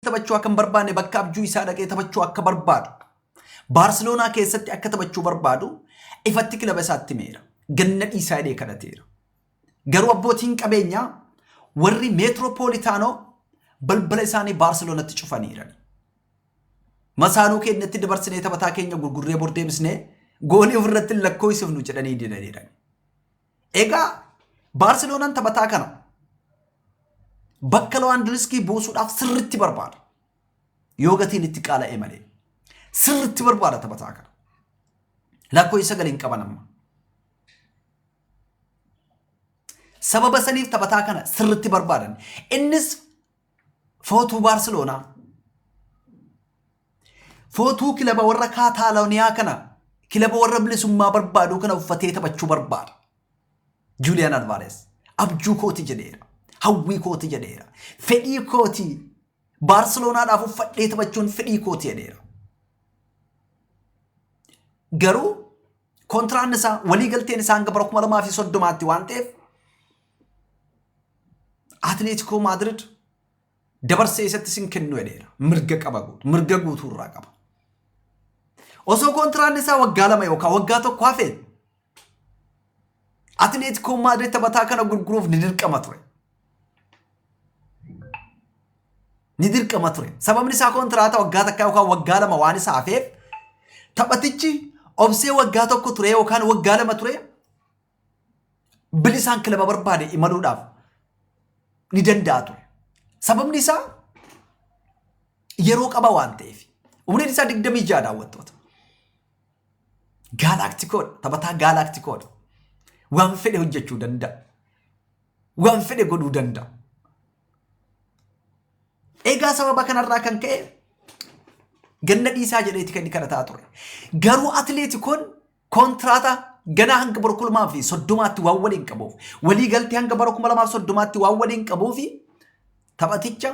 taphachuu akka hin barbaanne bakka abjuu isaa dhaqee taphachuu akka barbaadu Baarseloonaa keessatti akka taphachuu barbaadu ifatti kilaba isaatti himeera. Ganna dhiisaa jedhee kadhateera. Garuu abbootiin qabeenyaa warri meetiroopoolitaanoo balbala isaanii Baarseloonatti cufaniiran. Masaaluu keenyatti dabarsinee taphataa keenya gurgurree bor deebisnee goolii ofirratti hin lakkoofsifnu jedhanii didaniiran. Egaa Baarseloonaan taphataa kana bakka Lawaandiriskii buusuudhaaf sirriitti barbaada. Yoo gatiin itti qaala'e malee. Sirriitti barbaada taphataa kana. Lakkoo isa galiin qaban amma. Sababa saniif taphataa kana sirriitti barbaadan. Innis Footuu Baarseloonaa. Footuu kilaba warra Kaataalooniyaa kana kilaba warra bilisummaa barbaaduu kana uffatee taphachuu barbaada. Juuliyaan Alvaarees abjuu kooti jedheera. Hawwii kooti jedheera. Fedhii kooti Baarseloonaadhaaf uffadhee taphachuun fedhii kooti jedheera. Garuu kontiraan isaa walii galteen isaa hanga bara kuma lamaa fi soddomaatti waan ta'eef Atileetikoo Maadirid dabarsee isatti sin kennu jedheera. Mirga qaba guutu. Mirga guutuu irraa qaba. Osoo kontiraanni isaa waggaa lama yookaan waggaa tokko hafe Atileetikoo Maadirid taphataa kana gurguruuf ni dirqama ture. Ni dirqama ture. Sababni isaa kontiraata waggaa takkaa yookaan waggaa lama waan isa hafeef taphatichi obsee waggaa tokko ture yookaan waggaa lama ture bilisaan kilaba barbaade imaluudhaaf ni danda'a ture. Sababni isaa yeroo qaba waan ta'eef. Umriin isaa 26 daawwattoota. Gaalaktikoodha. Taphataa gaalaktikoodha. Waan fedhe hojjechuu danda'a. Waan fedhe godhuu danda'a. Egaa sababa kanarraa kan ka'e ganna dhiisaa jedheeti kan inni kadhataa ture. Garuu atileetikoon Kontiraata ganaa hanga bara kuma lamaa fi soddomaatti waan waliin qabuuf walii galtee hanga bara kuma lamaa fi soddomaatti waan waliin qabuuf taphaticha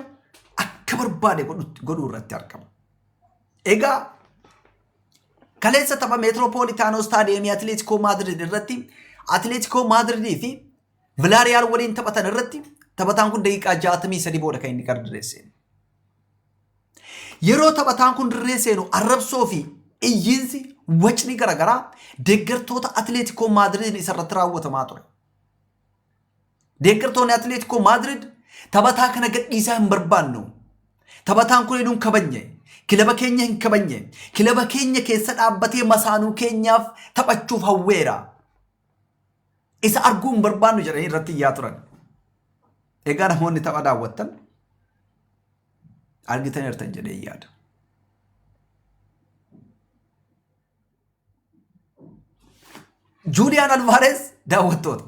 akka barbaade godhu- godhuu irratti argama. Egaa kaleessa tapha meetiroopoolitaanoo istaadiyeemii Atileetikoo Maadrid irratti Atileetikoo Maadridii fi Vilaariyaal waliin taphatan irratti taphataan kun daqiiqaa 63 booda kan inni gardireesse. Yeroo taphataan kun dirree seenu arrabsoo fi iyyiinsi wacni garaagaraa deeggartoota Atileetikoo Maadiriid isarratti raawwatamaa ture. Deeggartoonni Atileetikoo Maadiriid taphataa kana gadhiisaa hin barbaannu. Taphataan kun eenyuun kabajne? Kilaba keenya hin kabajne. Kilaba keenya keessa dhaabbatee masaanuu keenyaaf taphachuuf hawweera. Isa arguu hin barbaannu jedhanii irratti iyyaa turan. Egaa namoonni tapha daawwattan argitaniirtan jedhee yaada. Juuliyaan Alvaarees daawwattoota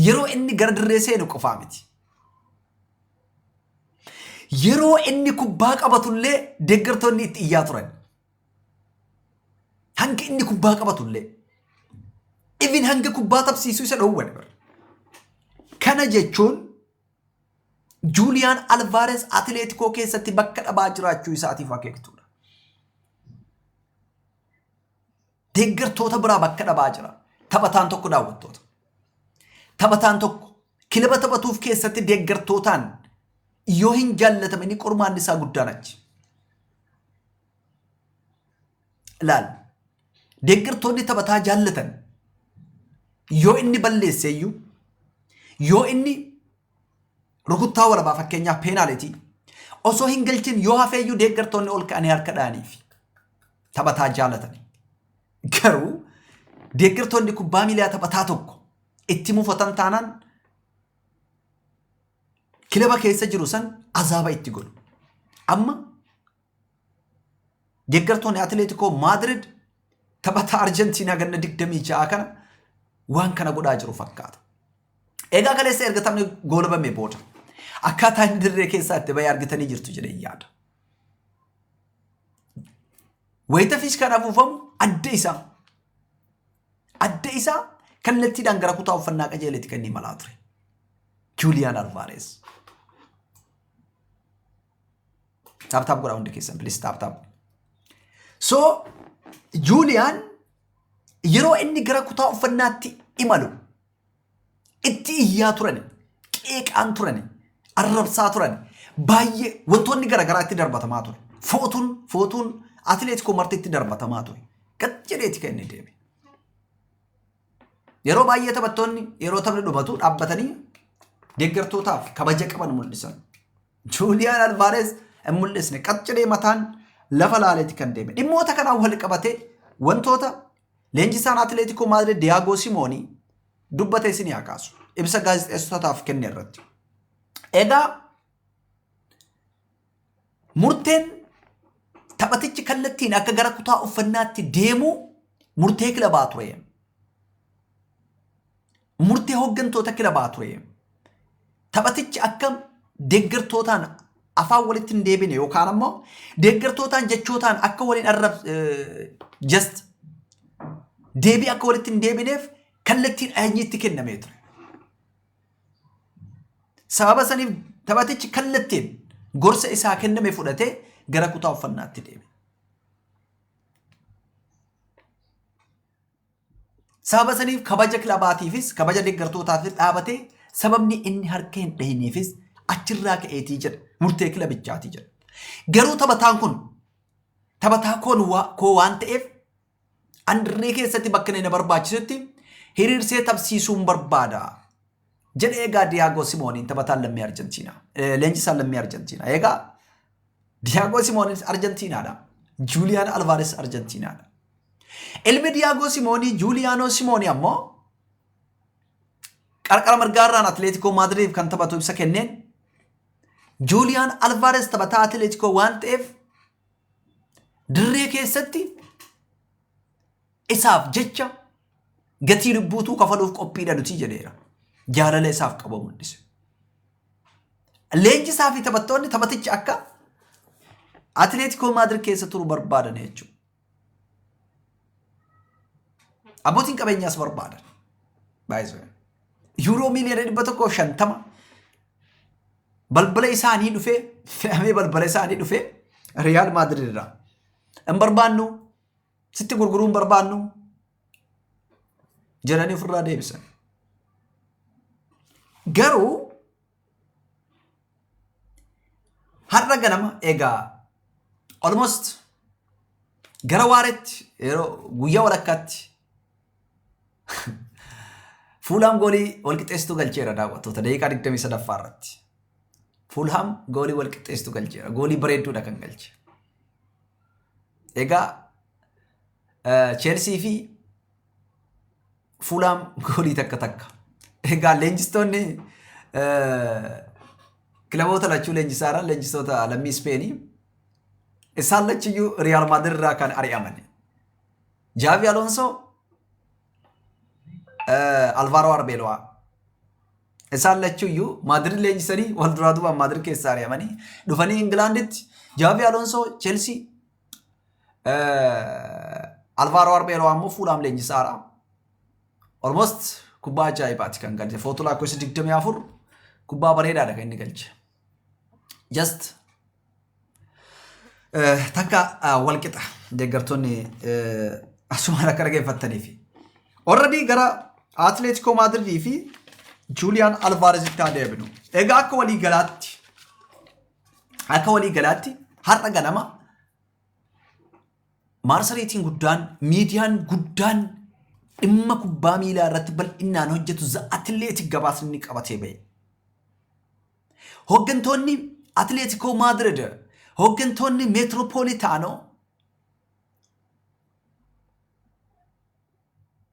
yeroo inni gara dirree seenu qofaa miti. Yeroo inni kubbaa qabatullee deeggartoonni itti iyyaa turan. Hangi inni kubbaa qabatu illee. Even hanga kubbaa taphsiisuu isa dhoowwan. Kana jechuun Juuliyaan Alvaarees Atileetikoo keessatti bakka dhabaa jiraachuu isaatiif akeektuudha. Deeggartoota biraa bakka dhabaa jira. Taphataan tokko daawwattoota. Taphataan tokko kilaba taphatuuf keessatti deeggartootaan yoo hin jaallatame inni qormaanni isaa guddaan achi. Laal. Deeggartoonni taphataa jaallatan yoo inni balleesse iyyuu yoo inni rukuttaa warabaa fakkeenyaaf peenaaletii osoo hin galchin yoo hafee iyyuu deeggartoonni ol ka'anii harka dha'aniif taphataa jaallatan. Garuu deeggartoonni kubbaa miilaa taphataa tokko itti mufatan taanaan kilaba keessa jiru san azaaba itti godhu. Amma Deeggartoonni Atileetikoo Maadirid taphataa Arjentiinaa ganna 26 kana waan kana godhaa jiru fakkaata. Egaa kaleessa erga taphni goolabame booda akkaataa inni dirree keessaa itti bahee argitanii jirtu jedhee yaada. Wayita fiiskaan afuufamu adda isaa adda isaa kallattiidhaan gara kutaa uffannaa qajeeletti kan inni imalaa ture. Juuliyaan Alvaarees. Taap taap godhaa hundi keessan please taap taap. So Juuliyaan yeroo inni gara kutaa uffannaatti imalu itti iyyaa turani, qeeqaan turani, arrabsaa turani, baay'ee wantoonni garaagaraa itti darbatamaa ture. Footuun footuun atileetikoo marti itti darbatamaa ture. Gad jedheeti kan inni deeme. Yeroo baay'ee taphattoonni yeroo taphni dhumatu dhaabbatanii deeggartootaaf kabaja qaban mul'isan. Juuliyaan Alvaarees hin mul'isne qacciree mataan lafa laaleeti kan deeme. Dhimmoota kanaan wal qabatee wantoota leenjisaan Atileetikoo Maadrid Diyaagoo Simoonii dubbate isin yaa kaasu. Ibsa gaazexeessitootaaf kenne irratti. Egaa Murteen taphatichi kallattiin akka gara kutaa uffannaatti deemuu murtee kilabaa ture. Murtee hooggantoota kilabaa ture. Taphatichi akka deeggartootaan afaan walitti hin deebine yookaan ammoo deeggartootaan jechootaan akka waliin arrab just deebii akka walitti hin deebineef kallattiin ajajni itti kennamee ture. Sababa saniif taphatichi kallattiin gorsa isaa kenname fudhatee gara kutaa uffannaatti deeme. Sababa saniif kabaja kilabaatiifis kabaja deeggartootaafis dhaabatee sababni inni harka hin dhahineefis achirraa ka'eetii jedha murtee kilabichaatii jedha. Garuu taphataan kun taphataa koo waan ta'eef Andirree keessatti bakka inni na barbaachisutti hiriirsee taphsiisuun barbaada. Jedhe egaa Diyaagoo Simooniin taphataan lammii Arjentiinaa. Leenjisaan lammii Arjentiinaa. Egaa Diyaagoo Simoonis Arjentiinaadha. Juuliyaan Alvaares Arjentiinaadha. Ilmi Diyaagoo Simoonii Juuliyaanoo Simoonii ammoo qarqara mirgaarraan Atileetikoo Maadiriif kan taphatu ibsa kenneen Juuliyaan Alvaares taphataa Atileetikoo waan ta'eef Dirree keessatti isaaf jecha gatii lubbuutuu kafaluuf qophiidha nuti jedheera. Jaalala isaaf qaba mul'ise. Leenjisaa fi taphattoonni taphaticha akka Atileetikoo Maadirid keessa turu barbaadan jechuudha. Abbootiin qabeenyaas barbaadan. Baay'ee Yuuroo miiliyoona dhibba tokkoo shantama Balbala isaanii dhufee fe'amee balbala isaanii dhufee Riyaal Maadrid irraa. Hin barbaannu sitti gurguruu hin barbaannu jedhanii ofirraa deebisan. Garuu har'a ganama egaa almost gara waaretti yeroo guyyaa walakkaatti Fuulhaam goolii walqixxeessituu galcheera daawwattoota daqiiqaa 23ffaa irratti. Fuulhaam goolii walqixxeessituu galcheera. Goolii bareedduudha kan galche. Egaa Cheelsii fi Fuulhaam goolii takka takka. Egaa leenjistoonni kilaboota lachuu leenjisaa irra leenjistoota lammii Ispeenii isaan lachiyyuu Riyaal Maadirid irraa kan ari'aman. Jaavi Alonsoo Alvaaroo Arbeelowaa. Isaan lachuu iyyuu Maadirid leenjisanii wal duraa duubaan Maadirid keessaa ari'amanii dhufanii Ingilaanditti Jaavi Alonsoo Chelsii Alvaaroo Arbeelowaa immoo Fuulaam leenjisaadha. Almost kubbaa ajaa'ibaati kan galche. Footu lakkoofsa 24 kubbaa bareedaadha kan inni galche. just eh, takka ah, wal qixa deeggartoonni eh, asumaan akka dhageeffattaniif. Already gara Atleetikoo Maadiridii fi Juuliyaan Alvaarezitti haa deebinu. Egaa akka walii galaatti akka walii galaatti har'a ganama Maarsareetiin guddaan, miidiyaan guddaan dhimma kubbaa miilaa irratti bal'inaan hojjetu za atileetik gabaasni ni qabatee ba'e. Hooggantoonni Atileetikoo Maadirid, hooggantoonni Meetiroopoolitaanoo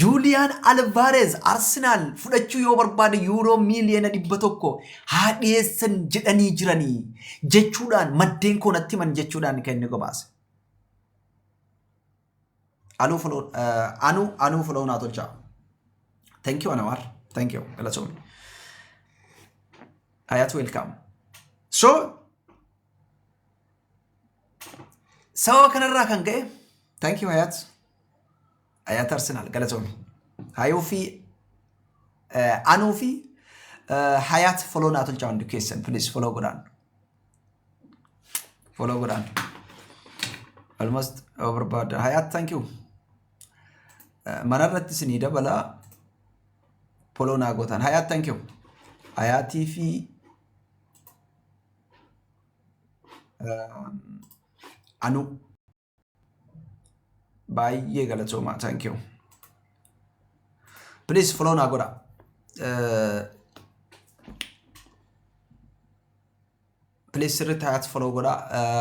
Juuliyaan Alvaareez Arsenaal fudhachuu yoo barbaade yuuroo miiliyoona dhibba tokko haa dhiyeessan jedhanii jiranii jechuudhaan maddeen koo natti himan jechuudhaan kan inni gabaase. Aluu foloo anu anuu foloo naa tolchaa. Thank you Anawar. Thank you. Galatoomi. Ayat welcome. So Sababa kanarraa kan ka'e thank you Hayaat Hayaat Arsenaal galatoomi Hayuu fi Anuu fi Hayaat foloo naa tolchaa hundi keessan please foloo godhaan foloo godhaan almost yoo barbaaddan Hayaat thank you manarratti isinii dabalaa foloo naa gootaan Hayaat thank you Hayaatii fi Anu baay'ee galatoomaa thank you please follow naa godha please sirriitti hayaatti follow godha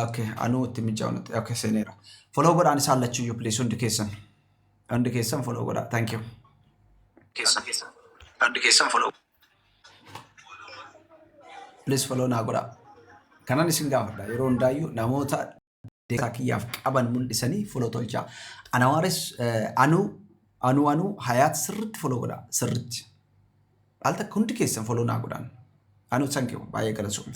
okay anuu itti mijaa'u natti okay seeneera follow godhaan isaan lachuyyuu please hundi keessan hundi keessan follow godha thank you keessan hundi keessan follow Please follow naa godhaa. Kanan isin gaafadha yeroo hundaayyuu namoota deeggarsa kiyyaaf qaban mul'isanii follow tolchaa. Anawaaris eh, anuu anuu anuu hayaat sirriitti follow godhaa sirriitti. Al takka hundi keessan follow naa godhaan. Anuu thank you baay'ee galatoomi.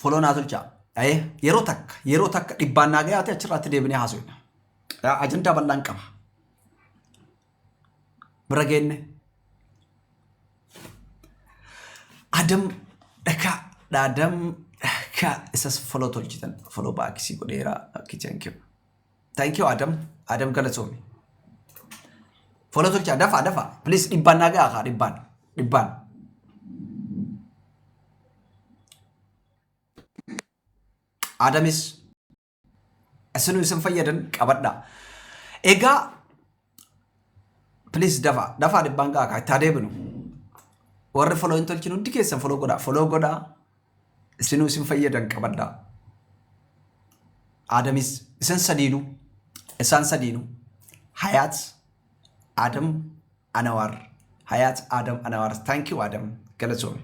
Foloo naa tolchaa. Ayee yeroo takka yeroo takka dhibbaan naa gayaate achirraatti deebinee haasofna. Yaa ajandaa bal'aan qaba. Bira geenne. Adam dhakaa dhaadam dhakaa isas foloo tolchitan foloo baakisii godheeraa kitchen kiba. Thank you Adam. Adam galatoomi. Follow tolchaa dafaa dafaa. Please dhibbaan naa gahaa kaa dhibbaan. Dhibbaan. Adamis isinuu isin fayyadan qabadha. Egaa Please dafaa dafaa dhibbaan ga'a kaa itti haa deebinu. Warri foloo hin tolchin hundi keessan foloo godhaa foloo godhaa isinuu isin fayyadan qabadhaa. Aadamis isin sadiinuu isaan sadiinuu Hayaat Adam Anawaar Hayaat Adam Anawaar thank you Adam galatoomi.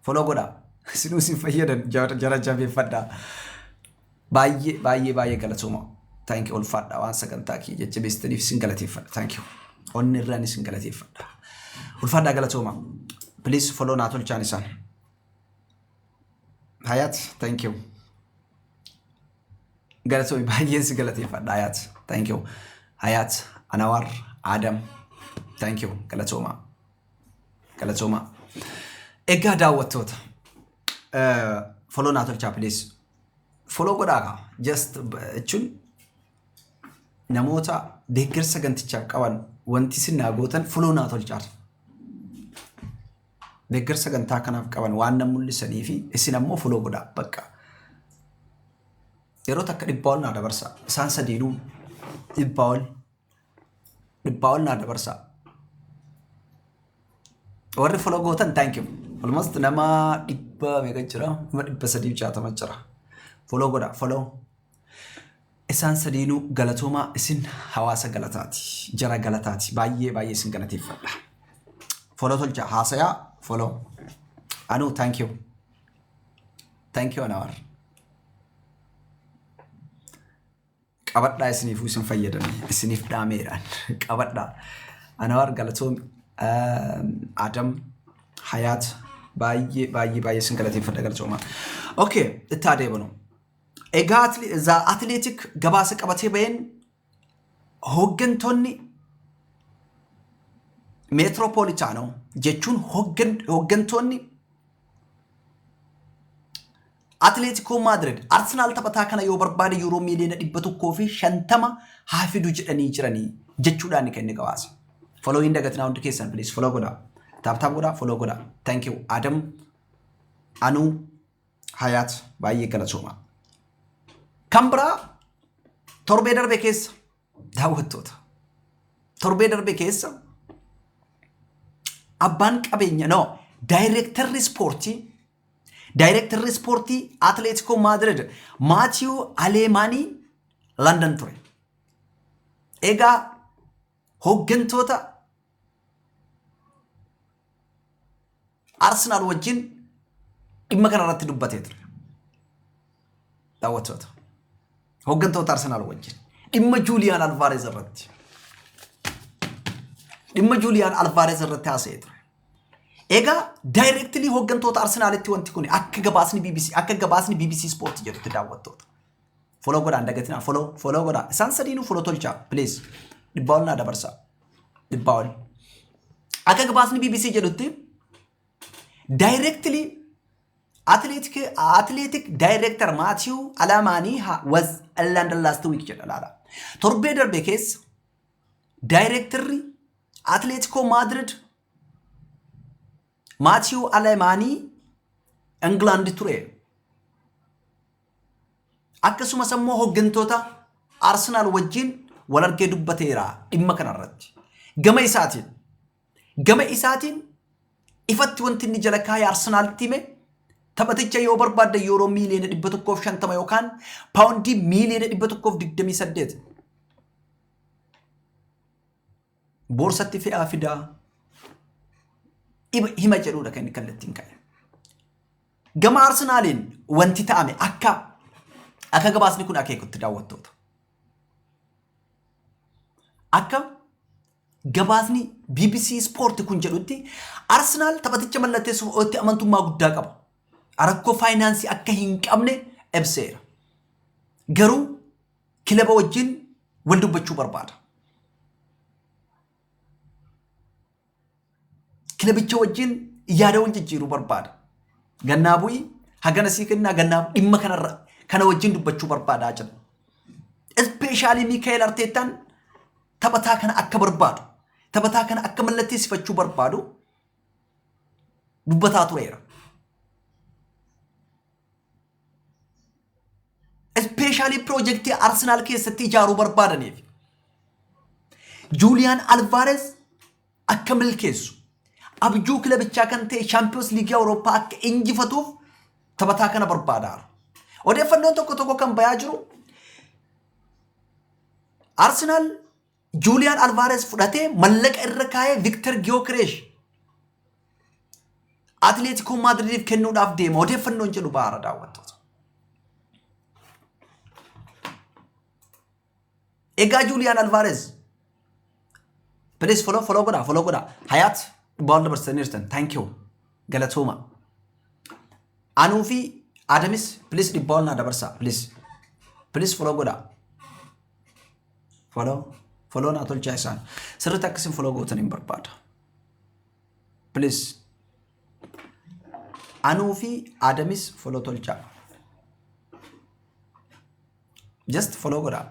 Foloo godhaa. Isinuu isin fayyadan jara jara jabeeffadhaa. Baay'ee baay'ee baay'ee galatooma. Thank you ulfaadhaa waan sagantaa kiyya jajjabeessitaniif isin galateeffadha. Thank you. Onni irraan isin galateeffadha. Ulfaadhaa galatooma. Please foloo naa tolchaan isaan. Hayat, thank you. Galatoomi baay'een si galateeffadha Hayat. Thank you. Hayat, Anawar, Adam. Thank you. Galatooma. Galatoomaa. Egaa daawwattoota eh, follow naa tolchaa please. Follow godhaa kaa. Just eh, jechuun namoota deeggarsa gantichaaf qaban wanti isin naa gootan follow naa tolchaa. Deeggarsa gantaa kanaaf qaban waan nan mul'isanii fi isin ammoo follow godhaa bakka. Yeroo takka dhibbaa ol naa dabarsa. Isaan sadiinuu dhibbaa ol dhibbaa ol naa dabarsaa warri follow gootan thank you almost nama dhibba meeqa jira nama dhibba sadii jaatama jira follow godha follow isaan sadiinuu galatoomaa isin hawaasa galataati jara galataati baay'ee baay'ee isin galateeffadha follow tolcha haasayaa follow anu thank you thank you anawar qabadhaa isiniifuu isin fayyadame isiniif dhaameeraan qabadhaa anawaar galatoom adam hayaat baay'ee baay'ee baay'ee isin galateeffadha galatooma okay itti adeemnu egaa za atleetik gabaasa qabatee baheen hooggantoonni meetiroopoolitaanoo jechuun hooggantoonni Atileetikoo Maadirid Arsenaal taphataa kana yoo barbaade yuuroo miiliyoona 150 haa fidu jedhanii jiranii jechuudhaan kan inni gabaase. Foloo hin dagatinaa hundi keessan please foloo godhaa. Taaptaap godhaa foloo godhaa. Thank you Adam Anuu Hayaat baay'ee galatoomaa. Kan biraa torbee darbe keessa daawwattoota. Torbee darbe keessa abbaan qabeenya no daayireektarri ispoortii Daayirektarri ispoortii Atileetikoo Maadirid Maatiyu Aleemaanii Landan ture. Egaa hooggantoota Arsenaal wajjin dhimma kana irratti dubbatee ture. daawwattoota hooggantoota Arsenaal wajjin dhimma Juuliyaan Alvaarez irratti dhimma Juuliyaan Alvaarez irratti haasa'ee ture. Egaa daayirektilii hooggantoota Arsenaalitti wanti kun akka gabaasni BBC akka gabaasni BBC Sport jedhutti daawwattoota. Foloo godhaan dagatinaa foloo foloo godhaa isaan sadiinuu foloo tolchaa please dhibbaa ol naa dabarsaa dhibbaa ol. Akka gabaasni BBC jedhutti daayirektilii Atileetik daayireektar Maatiiw Alamaanii was London last week jedha laala. Torbee darbe keessa daayireektarri Atileetikoo Maadirid Maatiiw Alamaanii Ingilaandi ture. Akkasumas immoo hooggantoota Arsenaal wajjin wal argee dubbateera dhimma kanarratti. Gama isaatiin Gama isaatiin ifatti wanti inni jala kaa'e Arsenaalitti hime taphaticha yoo barbaaddan yuuroo miiliyoona 150 yookaan paawundii miiliyoona 128 boorsatti fe'aa fidaa iba- hima jedhuudha kan inni kallattiin ka'e. Gama Arsenaaliin wanti ta'ame akka akka gabaasni kun akeekutti daawwattoota. Akka gabaasni bbc Sport kun jedhutti Arsenaal taphaticha mallatteessuuf otti amantummaa guddaa qaba. Rakkoo faayinaansii akka hin qabne ibseera. Garuu kilaba wajjin wal dubbachuu barbaada. kilabicha wajjin yaada wal jijjiiruu barbaada. Gannaa bu'i hagana sii kennaa gannaa dhimma kanarra kana wajjin dubbachuu barbaadaa jira. Ispeeshaalii Miikaa'el Arteettaan taphataa kana akka barbaadu taphataa kana akka mallatteessifachuu barbaadu dubbataa tureera. Ispeeshaalii piroojeektii Arsenaal keessatti ijaaruu barbaadaniif Juuliyaan Alvaarees akka milkeessu, abjuu kilabichaa kan ta'e Shaampiyoons Liigii Awurooppaa akka injifatuuf taphataa kana barbaadaara. Odeeffannoon tokko tokko kan bayaa jiru Arsenaal Juuliyaan Alvaarees fudhatee mallaqa irra kaa'ee Viktar Giyookireesh Atileetikoo Maadridiif kennuudhaaf deema. Odeeffannoon jedhu baara daawwattoota. Egaa Juuliyaan Alvaareez. Please follow follow godhaa follow godhaa. Hayaat dhubbaa ol dabarsitaniirtan. Thank you. Galatooma. Anuu fi Adamis please dhibbaa ol naa dabarsaa please. Please follow godhaa. Follow follow naa tolchaa isaan. Sirriitti akkasiin follow gootan hin barbaada. Please. Anuu fi Adamis follow tolchaa. Just follow godhaa.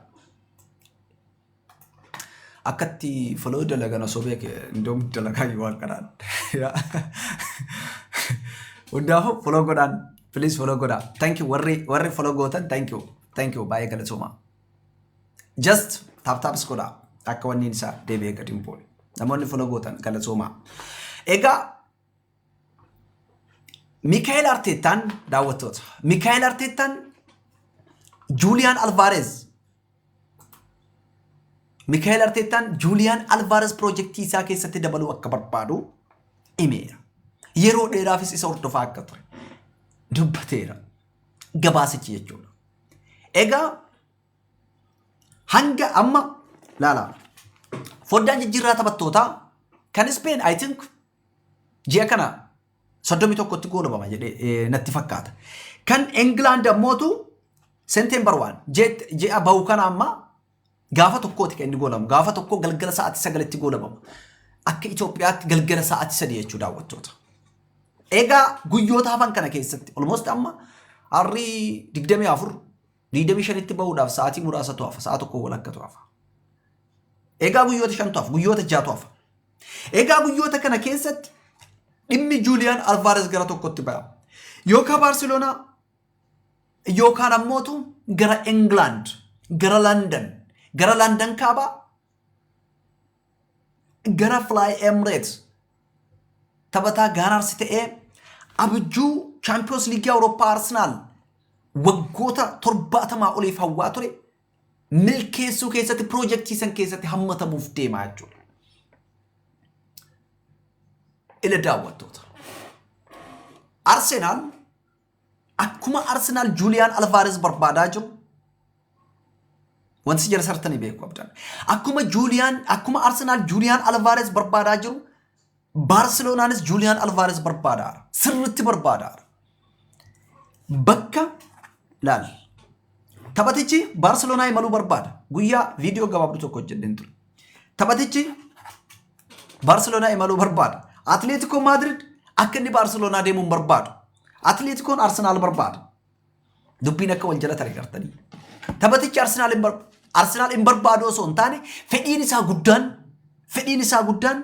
Akkatti follow dalagan osoo beeke indoom dalagaa yoo waan kanaan. Hundaaf follow godhaan. Please follow godhaa. Thank you warri warri follow gootan thank you. Thank you baay'ee galatooma. Just tap taps godhaa. Akka wanni isaa deebi'ee gadi hin buune. Namoonni follow gootan galatooma. Egaa Mikaa'el Arteettaan daawwattoota. Mikaa'el Arteettaan Juuliyaan Alvaareez. Mikaa'el Arteettaan Juuliyaan Alvaareez piroojeektii isaa keessatti dabaluu akka barbaadu himeera. Yeroo dheeraafis isa hordofaa akka ture dubbateera. Gabaasichi jechuudha. Egaa hanga amma laala foddaan jijjiirraa taphattootaa kan Ispeen I think Ji'a kana 31tti goolabama jedhee natti fakkaata. Kan England ammootu September 1 ji'a bahu kana amma gaafa tokkooti kan inni goolabamu. Gaafa tokko galgala sa'aatii sagalitti goolabama. Akka Itoophiyaatti galgala sa'aatii sadii jechuu daawwattoota. Egaa guyyoota hafan kana keessatti olmost amma harrii 24 25tti bahuudhaaf sa'aatii muraasatu hafa. Sa'a tokko walakkaatu hafa. Egaa guyyoota shantu hafa. Guyyoota jaatu hafa. Egaa guyyoota kana keessatti dhimmi Juuliyaan Alvaares gara tokkotti ba'a. Yookaan Baarseloonaa yookaan ammootu gara England, gara London, gara London kaabaa, gara Fly Emirates taphataa Gaanaarsi ta'ee abjuu Chaampiyoons Liigii Awurooppaa Arsenaal waggoota torbaatamaa oliif hawwaa ture milkeessuu keessatti piroojektii san keessatti hammatamuuf deemaa jechuudha. Ila daawwattoota. Arsenaal akkuma Arsenaal Juuliyaan Alvaareez barbaadaa jiru wanti jara sartanii beeku abdan. Akkuma Juuliyaan akkuma Arsenaal Juuliyaan Alvaareez barbaadaa jiru Baarseloonaanis Juuliyaan Alvaares barbaadaara. Sirritti barbaadaara. Bakka laal. Taphatichi Baarseloonaa imaluu barbaada. Guyyaa viidiyoo gabaabduu tokko hojjedheen ture. Taphatichi Baarseloonaa imaluu barbaada. Atileetikoo Maadrid akka inni Baarseloonaa deemuun barbaadu. Atileetikoon Arsenaal barbaada. Dubbiin akka wal jalatan agartanii. Taphatichi Arsenaal hin barbaadu. Arsenaal hin barbaadu osoo hin taane fedhiin isaa guddaan fedhiin isaa guddaan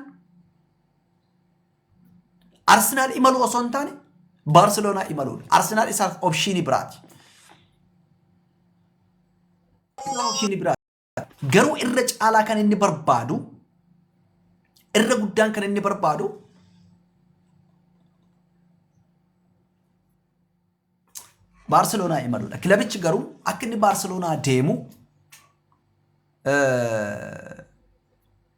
Arsenaal imaluu osoo hin taane Baarseloonaa imaluudha. Arsenaal isaaf opshiinii biraati. Opshiinii biraati. Garuu irra caalaa kan inni barbaadu irra guddaan kan inni barbaadu Baarseloonaa imaluudha. Kilabichi garuu akka inni Baarseloonaa deemu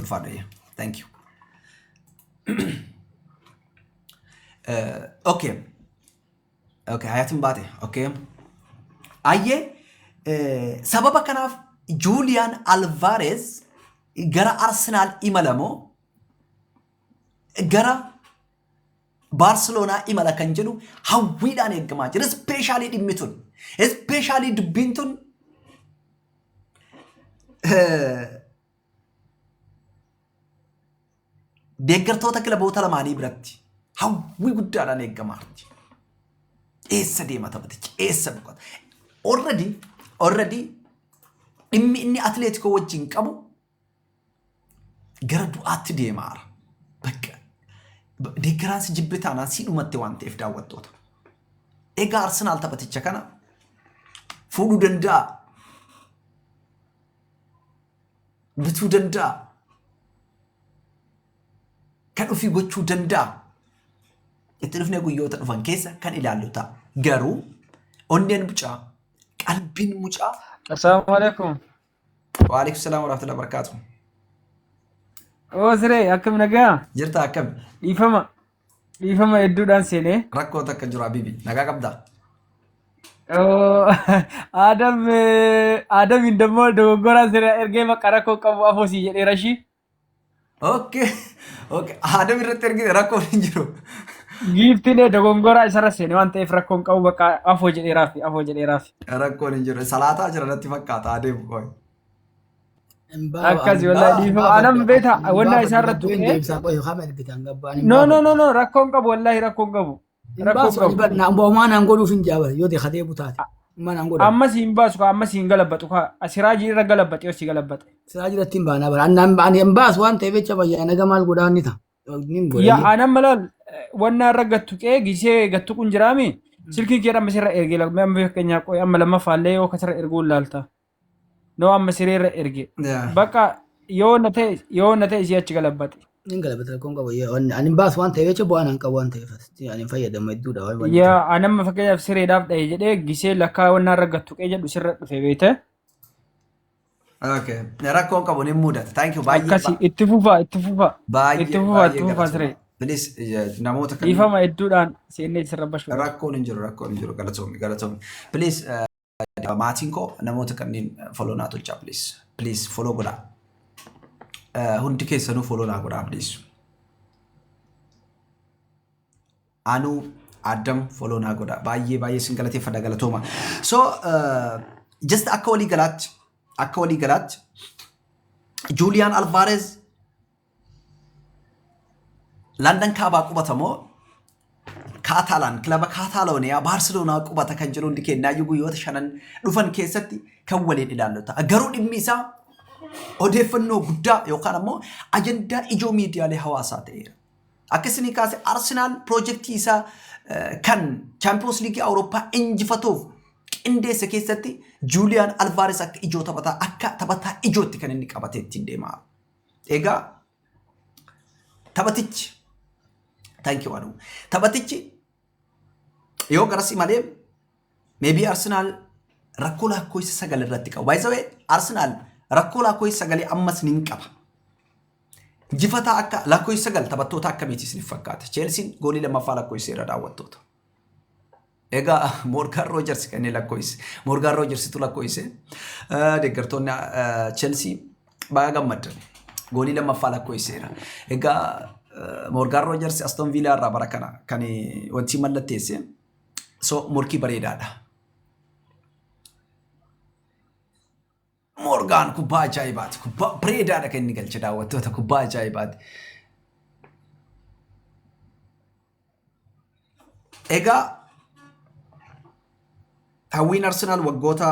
Ulfaadha yaa. Thank you. Eh, Okay. Okay, hayatin baate. Okay. Ayyee eh, sababa kanaaf Juuliyaan Alvaareez gara Arsenaal imala moo gara Baarseloonaa imala kan jedhu hawwiidhaan eegamaa jira. Ispeeshaalii dhimmi tun. Ispeeshaalii dubbiin tun eh, deeggartoota kilaboota lamaanii biratti hawwii guddaadhaan eegamaa jirti. Eessa deema taphatichi? Eessa boqota? Already already dhimmi inni atileetikoo wajjin qabu gara du'aatti deemaara. Bakka deeggaraan si jibbe taanaan si dhumatte waan ta'eef daawwattoota. Egaa Arsenaal taphaticha kana fuudhuu danda'a bituu danda'a. Kan ofii gochuu danda'a. Itti dhufnee guyyoota dhufan keessa kan ilaallu ta'a. Garuu onneen mucaa, qalbiin mucaa. Assalaamu alaikum. Waalaikum salaam warahmatullahi wabarakatuh. Oo siree akkam nagaa? Jirta akkami? Dhiifama. Dhiifama hedduudhaan seenee. Rakkoo takka jiru Habibi. Nagaa qabdaa? Adam Adam indammoo dogoggoraan sirra ergee maqaa rakkoo qabu afoosii jedhee rashii. Okay. Okay. Adam irratti ergite rakkoo hin jiru. Giiftiin dogongoraa isarra seene waan ta'eef rakkoon qabu bakka afoo jedheeraafi afoo jedheeraafi. Rakkoon hin jiru. Salaataa jira natti fakkaata adeemu qoy. Akkasi wallahi dhiifama. Anam beeta wannaa isaa irratti tuqee. Deemsaa qoyoo kama ergitaan gabbaan. No no no no rakkoon qabu wallahi rakkoon qabu. Rakkoon qabu. Boomaa naan godhuuf hin jaabare yoo ta'e kadee butaate. Amma naan godhu. Ammas hin baasu kaa ammas hin galabbatu kaa asiraajii irra galabbate yoo si galabbate. Siraa jiratti hin baanaa bara. Annaan ani hin baasu waan ta'eef jecha bayyaa naga maal godhaa ni ta'a. Nin godha. Yaa anam malaal wannaa irra gattu qee gisee gattu kun jiraami. Silkii kee amma sirra ergee lakkuu amma fakkeenyaa qoy amma lammaffaallee yoo kasirra erguun laalta. Noo amma sireerra erge. Yaa. Bakka yoo na ta'e yoo na ta'e si achi galabbate. Hin galabata rakkoon qabu. Yoo ani ani hin baasu waan ta'eef jecha bu'aan hin qabu waan ta'eef asitti ani hin fayyadamu hedduudha waan waan Yaa anamma fakkeenyaaf sireedhaaf dha'e jedhee gisee lakkaa wannaa irra gattu qee jedhu sirra dhufe beekte. Okay. Rakkoon qabu ni mudata. Thank you baay'ee. Akkasi itti fufaa itti fufaa. Baay'ee Itti fufaa itti fufaa siree. galatoomaa. Please eh, namoota kan Dhiifama hedduudhaan seennee sirra bashu. rakkoon hin jiru rakkoon hin jiru galatoomi galatoomi. Please eh, barbaada maatiin koo namoota kanneen follow naa tolchaa please please follow godhaa Eh, hundi keessanuu follow naa godhaa please anuu adam follow naa godhaa baay'ee baay'ee sin galateeffadha galatooma so eh, just akka walii galaatti akka walii galaatti juuliyaan alvaarez Landan kaabaa qubata moo Kaataalaan kilaba Kaataalooniyaa Baarseloonaa qubata kan jedhu hundi kennaayyuu guyyoota shanan dhufan keessatti kan waliin ilaallu ta'a. Garuu dhimmi isaa odeeffannoo guddaa yookaan ammoo ajandaa ijoo miidiyaalee hawaasaa ta'eera. Akka isinii kaase Arsenaal piroojeektii isaa eh, kan Chaampiyoons Liigii Awurooppaa injifatuuf qindeesse keessatti Juuliyaan Alvaares akka ijoo taphataa akka taphataa ijootti kan inni qabatee ittiin deemaa. Egaa taphatichi thank you Adu. Taphatichi yoo garasi malee maybe Arsenal rakkoo lakkoofsa sagal irratti qabu. By the way Arsenal rakkoo lakkoofsa sagalee ammas ni qaba. Jifataa akka lakkoofsa sagal taphattoota akkamiiti isiniif fakkaata? Cheelsiin goolii lammaffaa lakkoofsa irra daawwattoota. Egaa Moorgaan Roojers kan inni lakkoofsise. Moorgaan Roojersitu lakkoofsise. Deeggartoonni Chelsii baay'ee gammaddan. Goolii lammaffaa lakkoofsiseera. Egaa Moorgaan Roojers Aston Viilaa irraa bara kana kan wanti mallatteesse. So morkii bareedaadha. Moorgaan kubbaa ajaa'ibaati. Kubbaa bareedaadha kan inni galche daawwattoota kubbaa ajaa'ibaati. Egaa hawwiin Arsenaal waggoota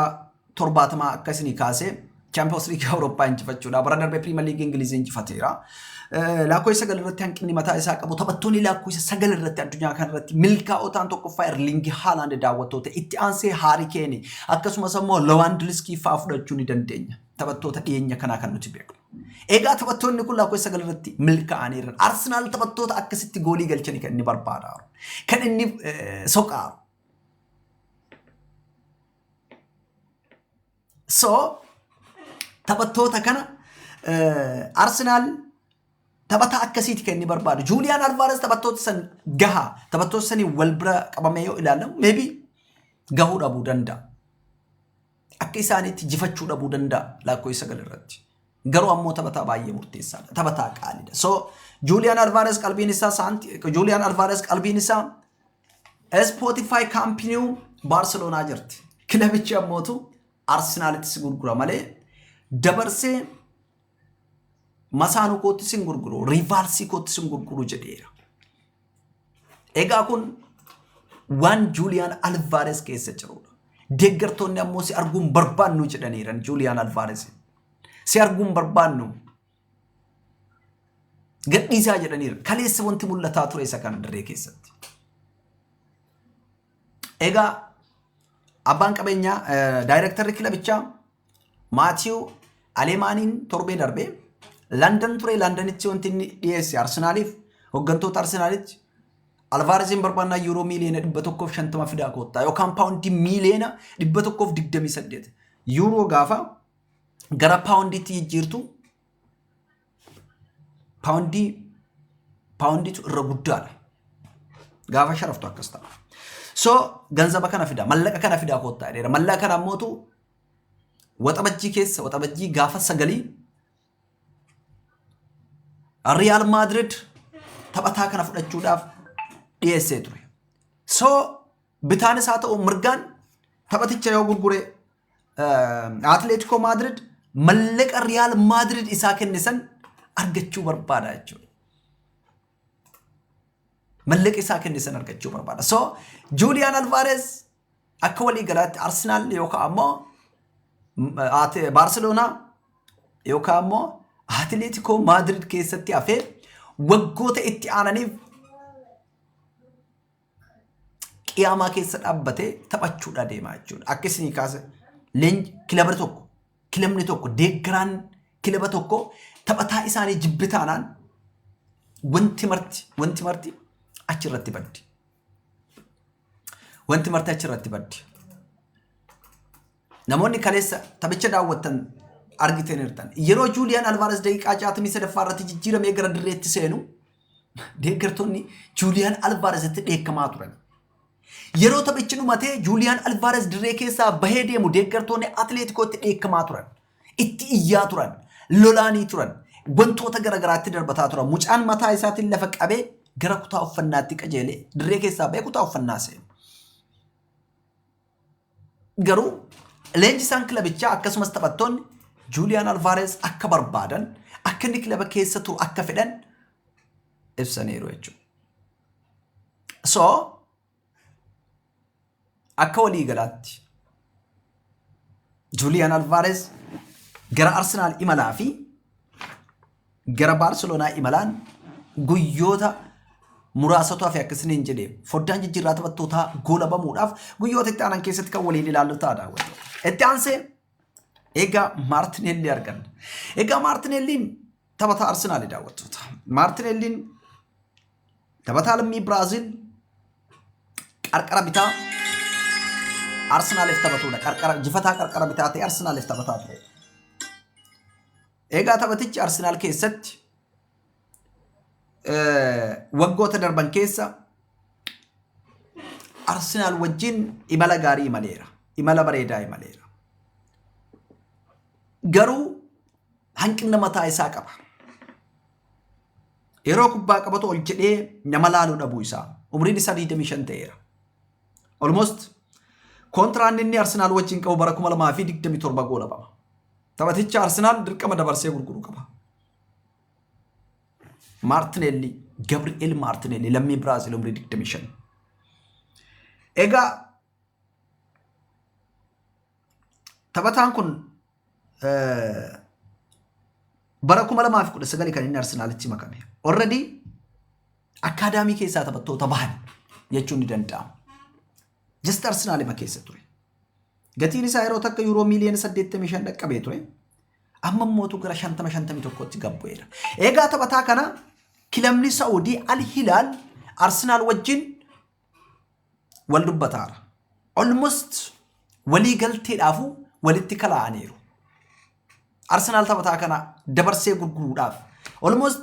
torbaatamaa akka isinii kaasee Chaampiyoons Liigii Awurooppaa injifachuudha. Bara darbe Piriimer Liigii Ingilizii injifateera. Laakkoo isa sagal irratti hanqinni mataa isaa qabu taphattoonni laakkoo isa sagal irratti addunyaa kana irratti milkaa'oo ta'an tokkoffaa Erlingi Haalaand daawwattoota itti aansee Haari Keeni akkasumas ammoo Lawaandiliskii fa'aa fudhachuu ni dandeenya. Taphattoota dhiyeenya kanaa kan nuti beeknu. Egaa taphattoonni kun laakkoo isa sagal irratti milkaa'aniiran. Arsenaal taphattoota akkasitti goolii galchanii kan inni barbaadaa jiru. Kan inni soqaa jiru. So taphattoota kana Arsenaal taphataa akkasiiti kan inni barbaadu. Juuliyaan Alvaares taphattoota san gahaa taphattoota saniin wal bira qabamee yoo ilaalamu meebi gahuu dhabuu danda'a. Akka isaaniitti jifachuu dhabuu danda'a laakkoo isa gal irratti. Garuu ammoo taphataa baay'ee murteessaadha. Taphataa qaaliidha. So Juuliyaan Alvaares qalbiin isaa saanti Juuliyaan Alvaares qalbiin isaa Spotify kaampiniiw Baarseloonaa jirti. Kilabichi ammootu Arsenaalitti si gurgura malee dabarsee masaanuu kootti sin gurguru, riivaalsii kootti sin gurguru jedheera. Egaa kun waan Juuliyaan Alvaares keessa jirudha. Deeggartoonni ammoo si arguun barbaannu jedhaniiran Juuliyaan Alvaares. Si arguun barbaannu Gadhiisaa jedhaniiru. Kaleessa wanti mul'ataa ture isa kana dirree keessatti. Egaa abbaan qabeenyaa daayirektarri kilabichaa Maatiiw Aleemaaniin torbee darbee Landan ture Landanitti wanti inni dhiyeesse Arsenaaliif hooggantoota Arsenaalitti Alvaarezin barbaannaa yuuroo miiliyoona dhibba tokkoof shantama fidaa koottaa yookaan paawundii miiliyoona dhibba tokkoof digdamii saddeet yuuroo gaafa gara paawundiitti jijjiirtu paawundii paawundiitu irra guddaadha. Gaafa sharaftu akkas ta'a. So ganzaba kana fidaa mallaqa kana fidaa koottaa jedheera. Mallaqa kana ammootu waxabajjii keessa waxabajjii gaafa sagalii Riyaal Maadrid taphataa kana fudhachuudhaaf dhiyeessee ture. So bitaanis haa ta'u mirgaan taphaticha yoo gurguree Atleetikoo Maadirid mallaqa Riyaal Maadirid isaa kenne san argachuu barbaada jechuudha. Mallaqa isaa kenne san argachuu barbaada. So Juuliyaan Alvaareez akka walii galaatti Arsenaal yookaan ammoo Baarseloonaa yookaan ammoo Atleetikoo Maadirid keessatti hafee waggoota itti aananiif qiyaamaa keessa dhaabbatee taphachuudha deemaa jechuudha. Akka isinii kaase leenji kilaba tokko kilabni tokko deeggaraan kilaba tokko taphataa isaanii jibbi taanaan wanti marti wanti marti achirratti baddi. Wanti marti achirratti baddi. Namoonni kaleessa taphicha daawwattan argitenertan. Yeroo Juuliyaan Alvaares daqiiqaa 63ffaa irratti jijjiiramee gara dirreetti seenu deeggartoonni Juuliyaan Alvaaresitti dheekkamaa turan. Yeroo taphichi dhumatee Juuliyaan Alvaares dirree keessaa bahee deemu deeggartoonni Atileetikootti dheekkamaa turan. Itti iyyaa turan. Lolaanii turan. Wantoota garaagaraatti darbataa turan. Mucaan mataa isaatiin lafa qabee gara kutaa uffannaatti qajeelee dirree keessaa bahee kutaa uffannaa seenu. Garuu leenjisaan kilabichaa akkasumas taphattoonni Juuliyaan Alvaareez akka barbaadan akka inni kilaba keessa turu akka fedhan ibsaniiru jechuudha. So akka walii galaatti Juuliyaan Alvaareez gara Arsenaal imalaa fi Gara Baarseloonaa imalaan guyyoota muraasatu hafe akka isiniin jedhe foddaan jijjiirraa taphattootaa goolabamuudhaaf guyyoota itti aanan keessatti kan waliin ilaallu ta'a daawwattoota. Itti aansee egaa Maartineellii arganna. Egaa Maartineelliin taphataa Arsenaali daawwattoota. Maartineelliin taphataa lammii Biraaziil qarqara bitaa Arsenaaliif taphatudha. Qarqara jifataa qarqara bitaa ta'e Arsenaaliif taphataa ture. Egaa taphatichi Arsenaal keessatti waggoota darban keessa Arsenaal wajjin imala gaarii imaleera. Imala bareedaa imaleera. Garuu hanqina mataa isaa qaba. Yeroo kubbaa qabatu ol jedhee nama laaluu dhabuu isaa. Umriin isaa 25 ta'eera. Almost kontiraanni inni Arsenaal wajjin qabu bara 2027 goolabama. Taphaticha Arsenaal dirqama dabarsee gurguru qaba. Maartineelli, Gabri'eel Maartineelli lammii Biraazil umrii 25. Egaa taphataan kun bara 2019 kan inni Arsenaalitti makame. Already akkaadaamii keessaa taphattoota bahan jechuun ni danda'ama. Just Arsenaalima keessa ture. Gatiin isaa yeroo takka yuuroo miiliyoona 85 dhaqqabee ture. Amma mootu gara 50-51tti gad bu'eera. Egaa taphataa kana kilabni Saa'udii Al Hilaal Arsenaal wajjin wal dubbataara. Almost walii galteedhaafuu walitti kalaa'aniiru. Arsenaal taphataa kana dabarsee gurguruudhaaf almost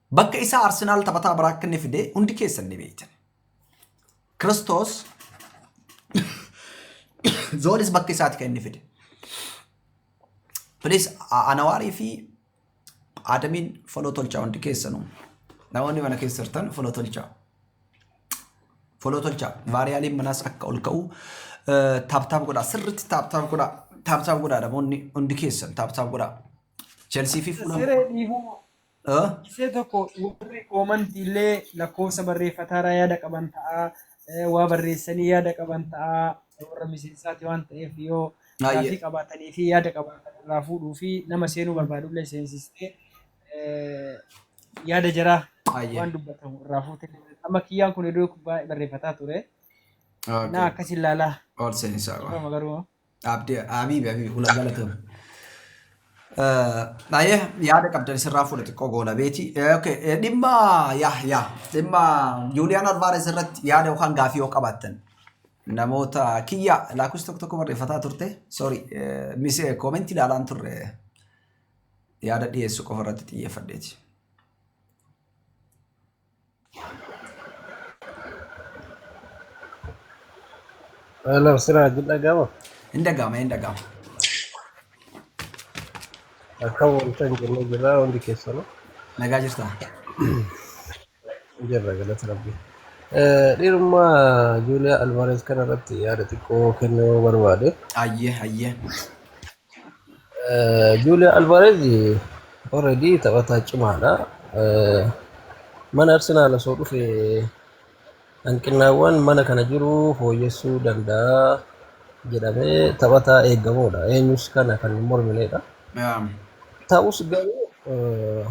Bakka isaa Arsenaal taphataa biraa akka inni fide hundi keessan ni beektan. Kiristoos Zoolis bakka isaati kan inni fide. Please A- Anawaarii fi Adamiin foloo tolchaa hundi keessanuu. Namoonni mana keessa jirtan foloo tolchaa. Foloo tolchaa. Vaariyaaliin manaas akka ol ka'u eh, taaptaap godhaa. Sirriitti taaptaap godhaa. Taaptaap godhaa namoonni hundi keessan taaptaap godhaa. Chelsea fi Fulham. Siree dhiifama. Ah, Isee tokko warri oomanti illee lakkoofsa barreeffataarraa yaada qaban ta'a. eh, Waa barreessanii yaada qaban ta'a. Warra miseensaati waan ta'eef yoo Baay'ee. gaafii qabaatanii fi yaada qabaatan irraa fuudhuu fi nama seenuu barbaadu illee seensistee eh, yaada jaraa Baay'ee. waan dubbatamu irraa fuutee. Amma kiyyaan kun iddoo baay'ee barreeffataa ture. Naa okay. akkas ilaalaa. Ol seensaa qaba. Garuu dhaabdee Habiibi Habiibi hula galatoom. Baay'ee yaada qabdan sirraa fuudha xiqqoo goola beeti. Okay, eh, dhimma yaa yaa dhimma Juuliyaan Alvaares irratti yaada yookaan gaafii yoo qabaattan namoota kiyya laakus tokko tokko barreeffataa turte sorry eh, mise koomentii ilaalaan turre yaada dhiyeessu qofa irratti xiyyeeffadheeti. Hello, Siraj dhaga'ama. Hin dhaga'ama, hin dhaga'ama. Akka wanta hin jenne jirra hundi keessanuu. Nagaa jirta. Jirra galata rabbi. Dhiirummaa Juuliyaa Alvarez kana irratti yaada xiqqoo kennuu barbaade. Ayyee, ayyee. Juuliyaa Alvaarez already taphataa cimaadha. Mana Arsenaal osoo dhufe hanqinnaawwan mana kana jiru fooyyessuu danda'a jedhamee taphataa eegamuudha. Eenyus kana kan hin mormineedha. Naam. Ta'us garuu eh,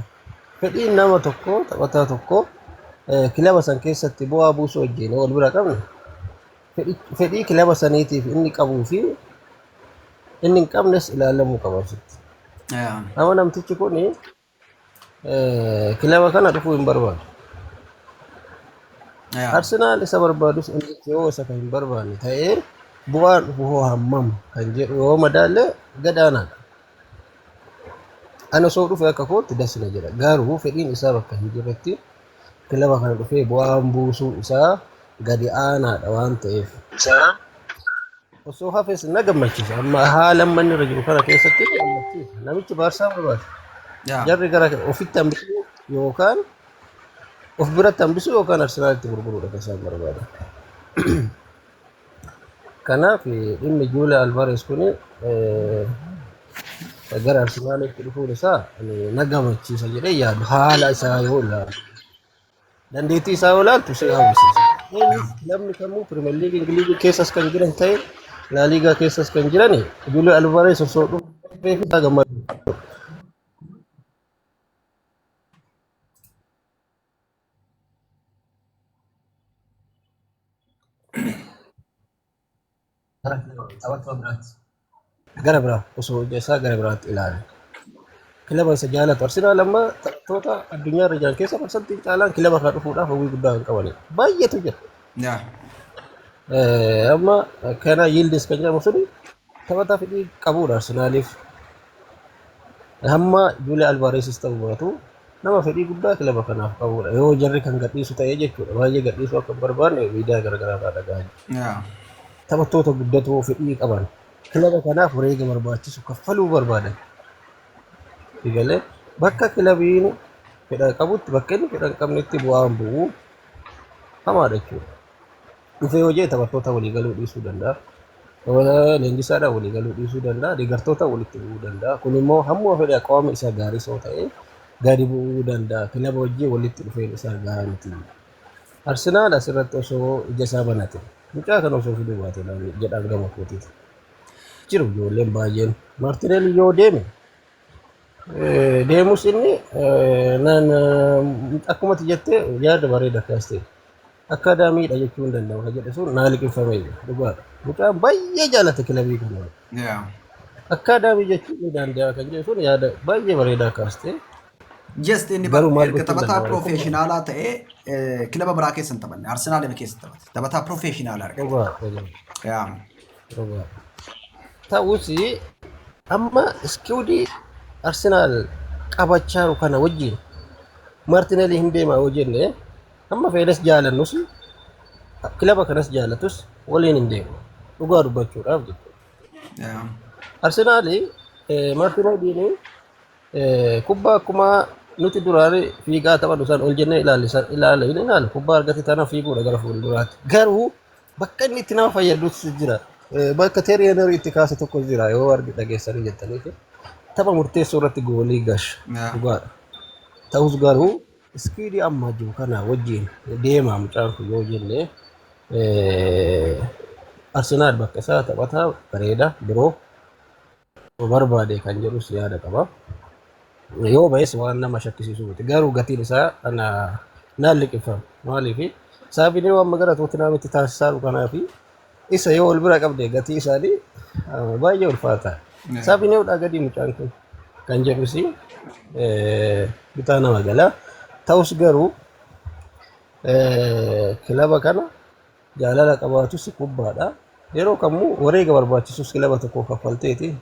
fedhiin nama tokko taphataa tokko eh, kilaba san keessatti bu'aa buusuu wajjin wal bira qabna. fedhii kilaba saniitiif inni qabuu fi inni hin qabnes ilaalamuu qaba asitti. Yaa. Nama namtichi kun kilaba kana dhufuu hin barbaadu. Yaa. Arsenaal isa barbaadus inni yoo isa kan hin barbaanne ta'ee bu'aan dhufu hoo hammam kan jedhu yoo madaalle gadaanaadha. Ana osoo dhufe akka kootti das na jedha. Garuu fedhiin isaa bakka hin jirretti kilaba kana dhufee bu'aan buusuu isaa gadi aanaadha waan ta'eef. Isaa osoo hafes na gammachiisa. Amma haala amma inni irra jiru kana keessatti na gammachiisa. Namichi Baarsaa barbaada. Yaa. Jarri gara ofitti hambisuu yookaan of biratti hambisuu yookaan Arsenaalitti gurguruudha kan isaan barbaada. Kanaaf dhimmi Juulaa Alvaarees kun gara Arsenaalitti dhufuun isaa na gammachiisa jedhee yaadu haala isaa yoo ilaalu. Dandeettii isaa yoo ilaaltu si hawwisiisa. Innis namni kamuu Pirimeer Liigii Ingiliizii keessas kan jiran ta'e Laaliigaa keessas kan jiran Juulaa Alvaarees osoo dhufee isaa gammadu. gara biraa osoo hojii isaa gara biraatti ilaala. Kilaba isa jaalatu Arsenaal amma taphattoota addunyaa irra jiran keessa parsantii caalaan kilaba kana dhufuudhaaf hawwii guddaa kan qabanidha. Baay'eetu jira. Yaa. Eh, amma kana Yildiz kan jedhamu suni taphataa fedhii qabudha Arsenaaliif. Hamma Juuliyaa Alvaareesis ta'uu baatu Nama fedhii guddaa kilaba kanaaf qabudha. Yoo jarri kan gadhiisu ta'ee jechuudha. Baay'ee gadhiisuu akka hin barbaanne miidiyaa garaagaraa irraa dhaga'aa jira. Taphattoota guddatoo fedhii qaban kilaba kanaaf wareega barbaachisu kaffaluu barbaadan. Sigalee bakka kilabiin fedha qabutti bakka inni fedha hin qabnetti bu'aan bu'u hamaadha jechuudha. dhufee yoo jee taphattoota walii galuu dhiisuu danda'a. Taphataa leenjisaadhaan walii galuu dhiisuu danda'a. Deeggartoota walitti bu'uu danda'a. Kun immoo hamma fedhe qaama isaa gaarii soo ta'e gadi bu'uu danda'a. Kilaba wajjin walitti dhufeen isaa gaarii miti. Arsenaal asirratti osoo ija isaa banate mucaa kana osoo fiduu baate jedhaan gama kootiiti. Jiru ijoolleen baay'een Maartineel yoo deeme deemus inni akkuma ati jette yaada bareeda kaaste akka daamiidha jechuu hin danda'u ka jedhe sun naa liqimfame dhugaadha mucaan baay'ee jaalate kilabii kana Yeah. akka daamii jechuu hin danda'a kan jedhe sun yaada baay'ee bareedaa kaaste Just inni Garuu maal erga gochuu taphataa danda'a? piroofeeshinaalaa ta'ee eh, kilaba biraa keessa hin taphanne. Arsenaal keessa taphate. Taphataa piroofeeshinaalaa argate. dhugaa dhugaa. Yeah. Ta'us amma iskiwudii Arsenaal qabachaa jiru kana wajjin Martinelli hin deema yoo jenne amma feenes jaalannus kilaba kanas jaalatus waliin hin deemu. Dhugaa dubbachuudhaaf jechuudha. Arsenaal Martinelliin kubbaa akkuma nuti duraan fiigaa taphannu san ol jennee ilaalle san ilaalle hin ilaalle kubbaa argate tana fiiguudha gara fuulduraatti. Garuu bakka inni itti nama fayyadus jira. Eh, Bakka Teerii Henry itti kaase tokko jira yoo argi dhageessanii jettaniif tapha murteessoo irratti goolii gash Yaa. dhugaadha. Ta'us garuu ispiidii amma jiru kana wajjin deemaa mucaan kun yoo jenne eh, Arsenaal bakka isaa taphataa bareeda biroo Yoo barbaade kan jedhus yaada qaba. Yoo ba'es waan nama shakkisiisu miti. Garuu gatiin isaa ana naan liqimfama. Maaliif saabinee waan magara Tootinhaamitti taasisaaru kanaa fi isa yoo wal bira qabde gatii isaanii ah, baay'ee ulfaata. Saabineewdhaa gadii mucaan kun kan jedhus eh, bitaa nama gala. Ta'us garuu eh, kilaba kana Jaalala qabaatus kubbaadha. Yeroo kamuu wareega barbaachisus kilaba tokkoo kaffalteeti.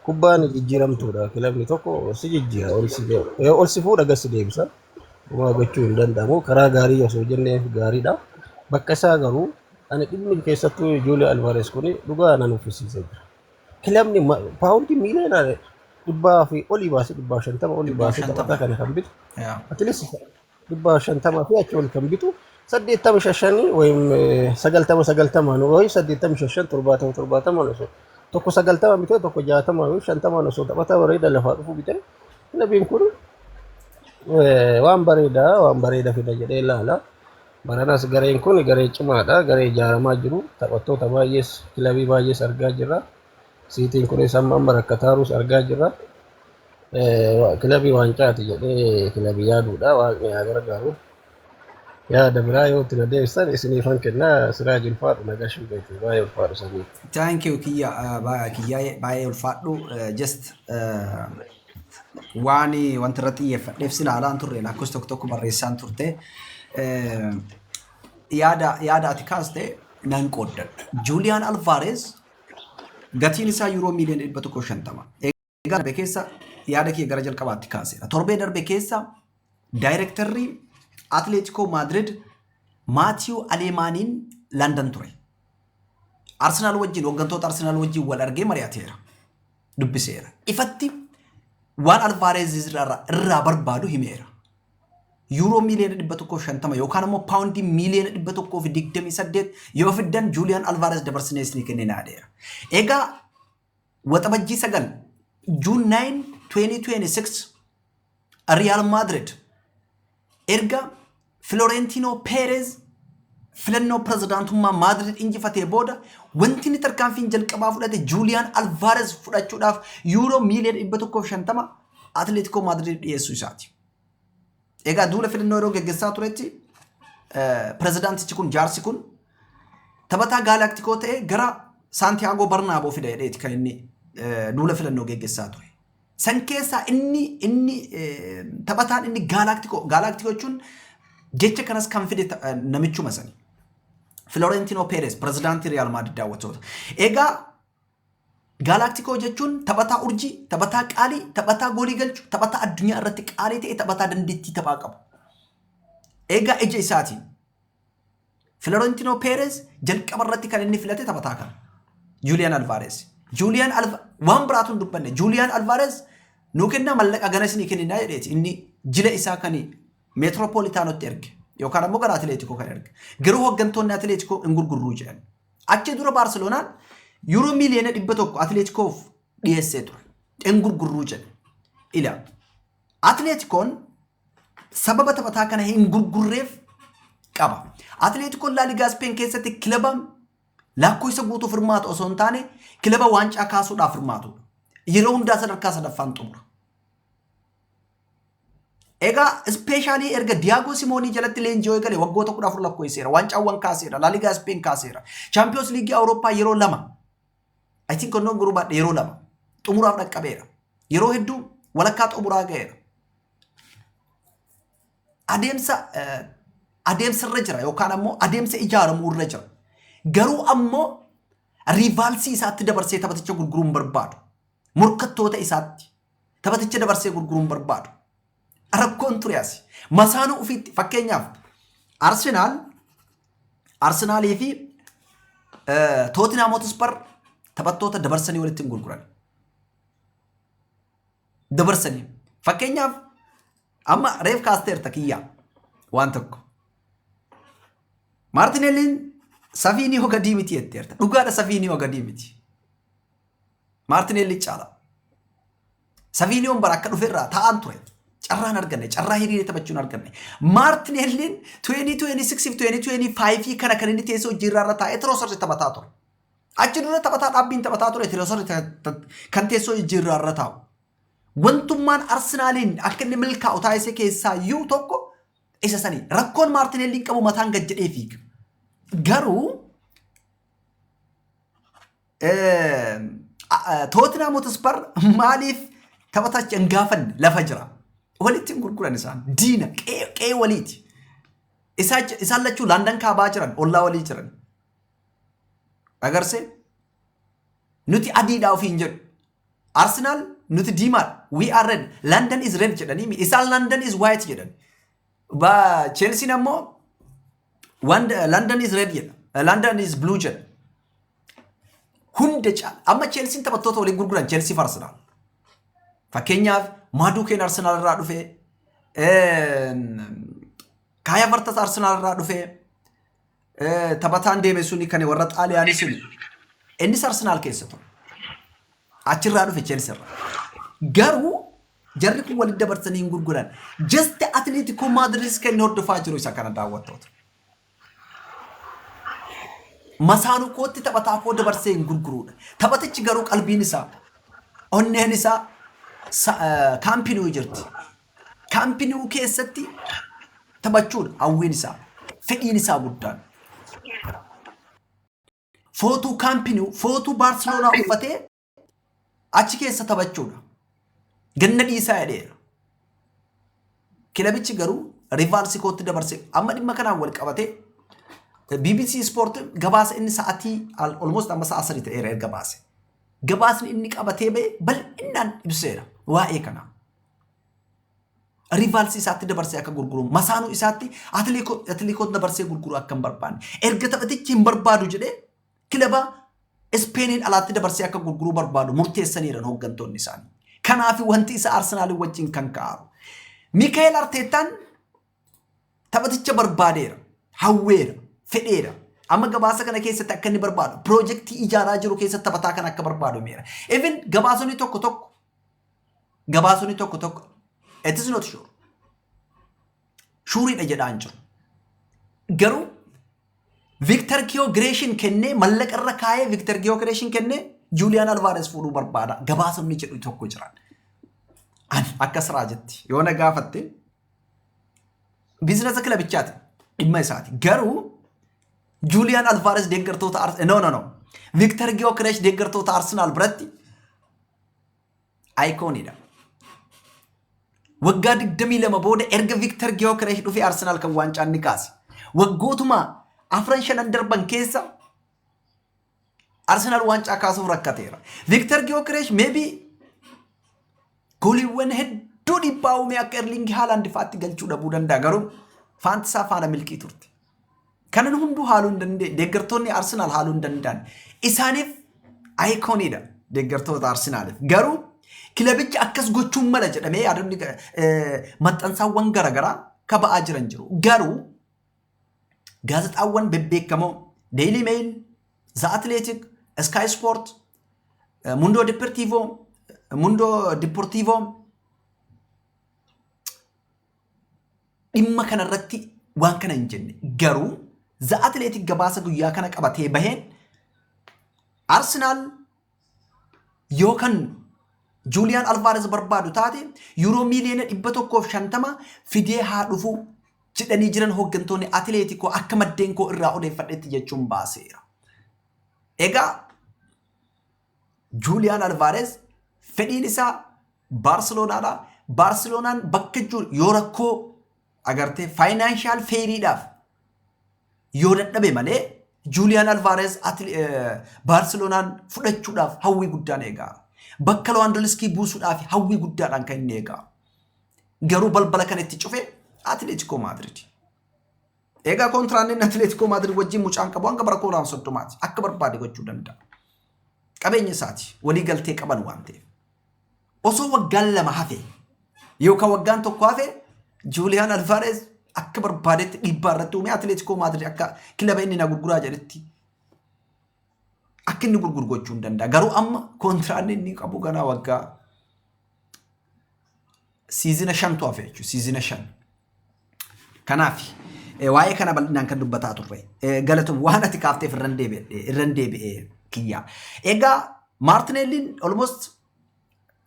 Kubbaan jijjiiramtuudha. Kilabni tokko si jijjiira, ol si ga'u. Ee, ol si fuudha, gad si deebisa. Homaa gochuu hin danda'amu. Karaa gaarii osoo jennee gaariidha. Bakka isaa garuu ani dhimmi keessattuu Juuliyoo Alvaarees kun dhugaa na nuffisiisee jira. Kilabni ma- paawundii miiliyoona dhibbaa fi olii baasee dhibbaa shantama olii Dhibbaa baasee shantama. taphataa kana kan bitu Yaa. atilees dhibba shantama fi achi ol kan bitu saddeettama shashanii wayim sagaltama sagaltama nu wayim saddeettama shashan torbaatama torbaatama osoo tokko sagaltama bitee tokko jaatama wayim shantama osoo taphataa bareeda lafaa dhufu bitee kilabiin kun eh, waan bareeda waan bareeda fida jedhee ilaala. Baranas gareen kun garee cimaadha garee ijaaramaa jiru taphattoota baay'ees kilabii baay'ees argaa jirra. Siitiin kunis amma amma rakkataa jirus argaa jirra. Kilabii waancaati jedhee kilabii yaaduudha. Waaqni haa gargaaru. Yaada biraa yoo itti na deebisan isiniifan kennaa siraa jilfaadhu na gashuu beeku baay'ee ulfaadhu sanyii. Thank you kiyya eh, ba- kiyyaa'ee baay'ee ulfaadhu Eh, just eh, waan wanti irratti xiyyeeffadheef si ilaalaan turre lakkoofsa tokko tokko barreessaan turte Eh, yaada yaada ati kaaste nan qooddadha. Juuliyaan Alvaareez Gatiin isaa yuuroo miiliyoona 150. Egaa darbe keessa yaada kee gara jalqabaatti kaaseera. Torbee darbe keessa daayirektarri Atileetikoo Maadirid Maatiyuu Aleemaaniin Landan ture. Arsenaal wajjin hooggantoota Arsenaal wajjin wal argee mari'ateera. Dubbiseera. Ifatti waan Alvaareez irraa barbaadu himeera. Yuuroo miiliyoona 150 yookaan immoo paawundii miiliyoona 128 yoo fiddan Juuliyaan Alvaares dabarsinee isinii kennina jedheera. Egaa waxabajjii sagal Juun 9 2026 Riyaal Maadrid erga Filoreentiinoo Peerez filannoo pirezidaantummaa Maadrid injifatee booda wanti inni tarkaanfiin jalqabaa fudhate Juuliyaan Alvaares fudhachuudhaaf yuuroo miiliyoona 150 Atileetikoo Maadriid dhiyeessuu isaati. Egaa duula filannoo yeroo geggessaa turetti pirezidaantichi kun jaarsi kun taphataa gaalaaktikoo ta'e gara Saantiyaagoo Barnaaboo fida jedheeti kan inni duula filannoo geggessaa ture. San keessaa inni inni taphataan inni gaalaaktikoo gaalaaktikoo jechuun jecha kanas kan fide namichuma sani. Filorentinoo Peeres pirezidaantii Riyaal Maadriid daawwattoota. Egaa Gaalaktikoo jechuun taphataa urjii, taphataa qaalii, taphataa goolii galchu, taphataa addunyaa irratti qaalii ta'e, taphataa dandeettii taphaa qabu. Eegaa ija isaatiin Filorentinoo Peerez jalqaba irratti kan inni filate taphataa kana. Juuliyaan Alvaareez. Juuliyaan Alva waan biraatu hin dubbanne. Juuliyaan Alvaareez nuu kennaa mallaqa gana isinii kenninaa jedheeti. Inni jila isaa kan meetiroopoolitaanotti erge yookaan ammoo gara Atileetikoo kan erge. Garuu hooggantoonni Atileetikoo hin gurgurruu jedhan. Achi dura Baarseloonaan yuuroo miiliyoona dhibba tokko Atileetikoof dhiyeessee ture. Hin gurgurruu jedhe. Ila Atileetikoon sababa taphataa kana hin gurgurreef qaba. Atileetikoon Laaligaa Ispeen keessatti kilaba lakkoofsa guutuuf hirmaatu osoo hin taane kilaba waancaa kaasuudhaaf hirmaatudha. Yeroo hundaa sadarkaa sadaffaan xumura. Egaa ispeeshaalii erga Diyaagoo Simoonii jalatti leenji'oo eegale waggoota 14 lakkoofsiseera. Waancaawwan kaaseera. Laaligaa Ispeen kaaseera. Chaampiyoons Liigii Awurooppaa yeroo lama. I think onnoon gurbaadha yeroo lama. Xumuraaf dhaqqabeera. Yeroo hedduu walakkaa xumuraa ga'eera. Adeemsa adeemsa irra jira yookaan ammoo adeemsa ijaaramuu irra jira. Garuu ammoo riivaalsii isaatti dabarsee taphaticha gurguruu hin barbaadu. Morkattoota isaatti Taphaticha dabarsee gurguruun barbaadu. Rakkoon ture asi. Masaanuu ofiitti fakkeenyaaf Arsenaal Arsenaalii fi Tootinhaam Hotspar taphattoota dabarsanii walitti hin gurguran. Dabarsanii. Fakkeenyaaf amma reef kaasteerta kiyyaa waan tokko. Maartinelliin safiinii hogadii miti jetteerta. Dhugaadha safiinii hogadii miti. Maartineelli caala. Saviiniyoon bara akka dhufe irraa taa'aan ture. Carraa hin arganne, carraa hiriiree taphachuu hin arganne. Maartineelliin 2026 fi 2025 kana kan inni teessoo hojjiirraa irra taa'ee Tiroosarri taphataa ture. Achi dura taphataa dhaabbiin taphataa ture Tiroosarri kan teessoo hojjiirraa irra taa'u. Wantummaan Arsenaaliin akka inni milkaa'u taasise keessaa iyyuu tokko isa sanii. Rakkoon Maartineelliin qabu mataan gad jedhee fiiga. Garuu Tootinhaam Hotispar maaliif taphatacha hin gaafanne lafa jira. Walitti hin gurguran isaan. Diina qe'ee waliiti. Isaan lachuu Landan kaabaa jiran ollaa walii jiran. Agarse nuti adiidhaa ofiin jedhu. Arsenaal nuti diimaadha. We are red. London is red jedhanii isaan London is white jedhan. Chelsiin ammoo London is red jedha. London is blue jedha. Hunda caala. Amma Cheelsiin taphattoota waliin gurguran Cheelsii fi Arsenaal. Fakkeenyaaf Maaduukeen Arsenaal irraa dhufee Kaaya Vartas Arsenaal irraa dhufee taphataan deeme suni kan warra Xaaliyaanii suni. Innis Arsenaal keessa ture. Achirraa dhufe Cheelsii irraa. Garuu jarri kun walitti dabarsanii hin gurguran. Jasti Atileetikoo Maadiriis kan inni hordofaa jiru isa kana daawwattoota. Masaanuu kootti taphataa koo dabarsee hin gurguruudha. Taphatichi garuu qalbiin isaa onneen isaa kaampinuu jirti. Kaampinuu keessatti taphachuudha hawwiin isaa. Fedhiin isaa guddaan. Footuu kaampinuu footuu Baarseloonaa uffatee achi keessa taphachuudha. Ganna dhiisaa jedheera. Kilabichi garuu rivaarsi kootti dabarse amma dhimma kanaan wal qabatee BBC Sport gabaasa inni sa'atii almost amma sa'a sadii ta'eera erga baase. Gabaasni inni qabatee ba'e bal'inaan ibseera waa'ee kanaa. Rivaarsi isaatti dabarsee akka gurguru masaanuu isaatti atileekoo dabarsee gurguru akka hin barbaanne erga taphatichi hin barbaadu jedhee kilaba Ispeeniin alaatti dabarsee akka gurguruu barbaadu murteessaniiran hooggantoonni isaanii. Kanaaf wanti isa Arsenaalii wajjin kan ka'aaru. Mikaa'el Arteettaan taphaticha barbaadeera, hawweera, fedheera. Amma gabaasa kana keessatti akka inni barbaadu, piroojeektii ijaaraa jiru keessatti taphataa kana akka barbaadu himeera. Even gabaasonni tokko tokko, gabaasonni tokko tokko, it is not sure. shuuriidha jedhaa hin jiru. Garuu Viktar Giyogireeshin kennee mallaqa irra kaa'ee Viktar Giyogireeshin kennee Juuliyaan Alvaares fuudhuu barbaada gabaasonni jedhu tokko jiran. Ani akka siraa jetti yoo na gaafatte biizinasa kilabichaati dhimma isaati. Garuu Juuliyaan Alvaares deeggartoota Arsenaal no no no Viktar Giyogireesh deeggartoota Arsenaal biratti Ayikooniidha. Waggaa 22 booda erga Viktar Giyookereesh dhufee Arsenaal kan waancaan ni kaase. Waggootuma afran shanan darban keessa Arsenaal waancaa kaasuuf rakkateera. Viktar Giyookereesh meebii gooliiwwan hedduu dhiibbaa uumee akka Erliingi Haalaand fa'aatti galchuu dhabuu danda'a garuu faantisaa faana milkii turte. Kanan hunduu haaluu hin dandeenye. Deeggartoonni Arsenaal haaluu hin danda'an. Isaaniif ayikooniidha deeggartoota Arsenaaliif. Garuu kilabichi akkas gochuun mala jedhamee yaadonni maxxansaawwan garaagaraa kaba'aa jiran jiru. Garuu gaazexaawwan bebbeekamoo Daily Mail, The Athletic, Sky Sport, Mundo Deportivo, Mundo Deportivo dhimma kana irratti waan kana hin jenne. Garuu The Athletic gabaasa guyyaa kana qabatee baheen Arsenaal yoo kan Juuliyaan Alvaarez barbaadu taate yuuroo miiliyoona dhibba tokkoof shantama fidee haa dhufu jedhanii jiran hooggantoonni Atileetikoo akka maddeen koo irraa odeeffadhetti jechuun baaseera. Egaa Juuliyaan Alvaareez fedhiin isaa Baarseloonaadha. Baarseloonaan bakka jiru yoo rakkoo agartee faayinaanshaal feeriidhaaf yoo dadhabe malee Juuliyaan Alvaareez Baarseloonaan fudhachuudhaaf hawwii guddaan eegaa. Bakka Lewandowski buusuudhaaf hawwii guddaadhaan kan inni eegaa. Garuu balbala kan itti cufe Atileetikoo Maadriid. Egaa kontiraanni inni Atileetikoo Maadrid wajjin mucaan qabu hanga bara 2030ti akka barbaade gochuu danda'a. Qabeenya isaati walii galtee qaban waan ta'eef. Osoo waggaan lama hafe yookaan waggaan tokko hafe Juuliyaan Alvaareez akka barbaadetti dhiibbaa irratti uumee Atileetikoo Maadrid akka kilaba inni na gurguraa jedhetti akka inni gurguru gochuu hin danda'a. Garuu amma kontiraanni inni qabu ganaa waggaa Siizina shantu hafe jechuudha. Siizina shan. Kanaaf eh, waa'ee kana bal'inaan kan dubbataa turre. Eh, Galatoom waan ati kaafteef irran deebi'e irran deebi'e kiyyaa. Egaa Maartineelliin almost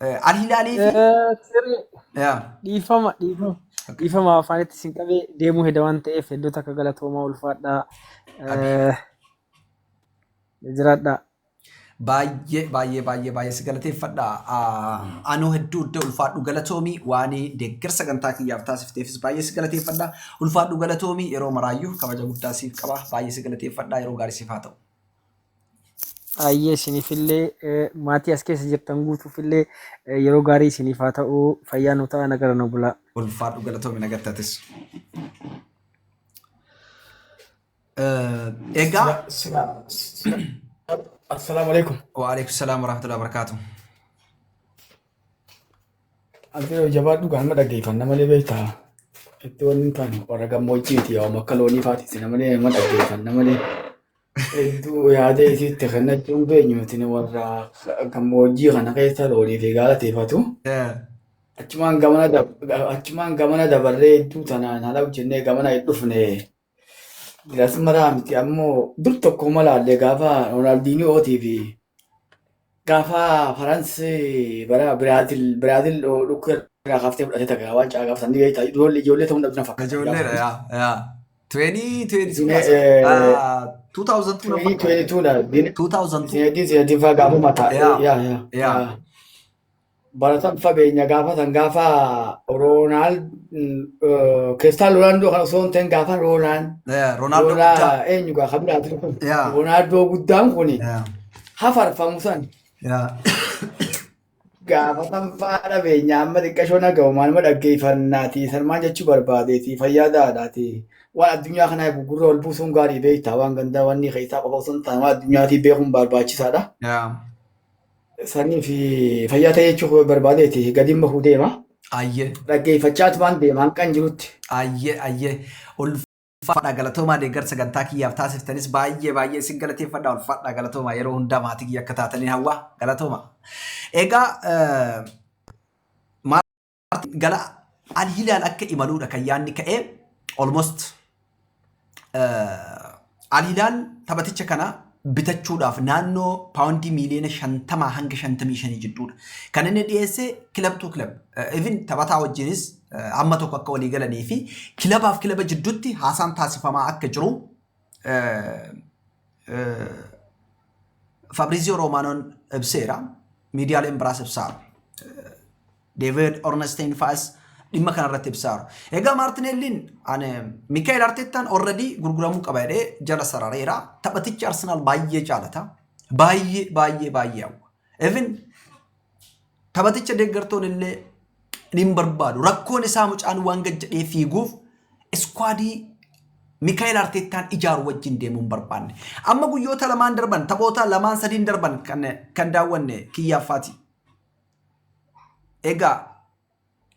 eh, Al Hilaalii fi Eh, Sirri yaa, dhiifama dhiifama okay. dhiifama afaanitti sin qabee deemuu heda waan ta'eef hedduutu akka galatoomaa ulfaadhaa Abi. eh, jiraadhaa. Baay'ee baay'ee baay'ee baay'ee si galateeffadha. Anoo hedduu iddoo ulfaadhu galatoomi waan deeggarsa sagantaa kiyyaaf taasifteefis baay'ee si galateeffadha. Ulfaadhu galatoomi yeroo maraayyuu kabaja guddaa siif qaba. Baay'ee si galateeffadha yeroo gaarii siif haa ta'u. Baay'ee isinifillee eh, maatii as keessa jirtan guutuufillee eh, yeroo gaarii isiniif haa ta'u fayyaa nu ta'a nagara nu bulaa. Ulfaadhu galatoomi nagattatis. Eh, Egaa Sila, sila, sila. Assalaamu alaikum. waalaikum salaam warahmatullahi wabarakaatu. Abdiro jabaadhu gaama dhaggeeffanna malee beektaa. Itti wanni hin taane warra gammoojjiiti yaa akka loonii faatiisi namalee nama dhaggeeffanna malee. Hedduu yaada isiitti kennachuun beenyu nuti warra gammoojjii kana keessa loonii fi gaalateeffatu. Eh, Achumaan gamana dab- achumaan gamana dabarree hedduu tanaan haala hojjennee gamana hin dhufne. Ilaas maraa miti ammoo dur tokko malaallee gaafa Roonaaldiniyootii fi gaafa Faransii bara Biraazil Biraazil dhukku irraa kaaftee fudhatee tagaa waan caa gaafatan ni beektaa ijoollee ijoollee ta'uu dhabdina fakkaata. Ijoolleedha yaa yaa. 2022 na fakkaata. 2022 Zinedine Zidane faa gaafuma ta'a. Yaa yaa yaa. baratan fageenya gaafatan gaafa Roonaald Kiristaal Roonaaldoo kan osoo hin ta'in gaafa Roonaan Eh, Roonaaldoo Roonaa guddaa. eenyu gaa kan biraati kun Yaa. Roonaaldoo guddaan kun Yaa, hafarfamu san yaa. gaafatan faa dhabeenya amma xiqqashoo nagahu maaluma dhaggeeffannaati salmaan jechuu barbaadeeti fayyaa daadhaati waan addunyaa kana eegu gurra ol buusuun gaarii beektaa waan gandaa wanni keessaa qofa osoo hin taane waan addunyaatii beekuun barbaachisaadha. Yaa. Saniif fayyaa ta'e jechuuf barbaadeeti gadiin bahuu deema. Ayyee. Dhaggeeffachaat waan deema hanqan jirutti. Ayyee ayyee ulfaadha galatoomaa deeggarsa sagantaa kiyyaaf taasiftanis baay'ee baay'ee isin galateeffadha ulfaadha galatoomaa yeroo hundaa maatii kiyya akka taataniin hawwaa galatoomaa. Egaa eh, gara Al Hilaal akka imaluudha kan yaadni ka'e almost Al Hilaal taphaticha kana bitachuudhaaf naannoo paawundii miiliyoona shantamaa hanga shantamii shanii jidduudha. Kan inni dhiyeesse kilab tuu kilab. Even taphataa wajjinis hamma tokko akka walii galanii fi kilabaaf kilaba jidduutti haasaan taasifamaa akka jiru Fabrizio Romaanoon ibseera. Miidiyaaleen biraas ibsaara. Deevid Ornestein fa'as dhimma kanarratti ibsaaru. Egaa Maartineelliin Mikaa'el Arteettaan orradii gurguramuu qaba jedhee jala sarareera. Taphatichi Arsenaal baay'ee jaalata. Baay'ee baay'ee baay'ee hawwa. Even taphaticha deeggartoon illee ni barbaadu. Rakkoon isaa mucaan waan gajjadhee fiiguuf iskwaadii Mikaa'el Arteettaan ijaaru wajjin deemuu hin barbaanne. Amma guyyoota lamaan darban taphoota lamaan sadiin darban kan daawwanne kiyyaaffaati. Egaa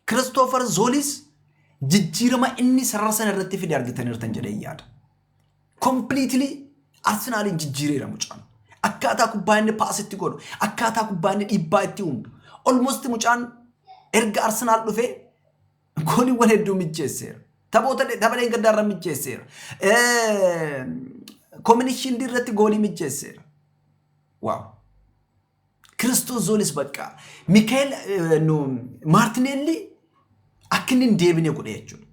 Kiristoofer Zoolis jijjiirama inni sarara sana irratti fide argitaniirtan jedhee yaada. Kompiliitilii Arsenaaliin jijjiireera mucaan. Akkaataa kubbaa inni paasitti godhu, akkaataa kubbaa inni dhiibbaa itti uumu. Olmosti mucaan erga Arsenaal dhufee gooliiwwan hedduu mijjeesseera. Taphoota taphaleen gaddaa irra mijjeesseera. Kominii shiildii irratti goolii mijjeesseera. Waaw! Kiristoos zoonis bakka Mikaa'el Maartineelli akka inni hin deebine godhe jechuudha.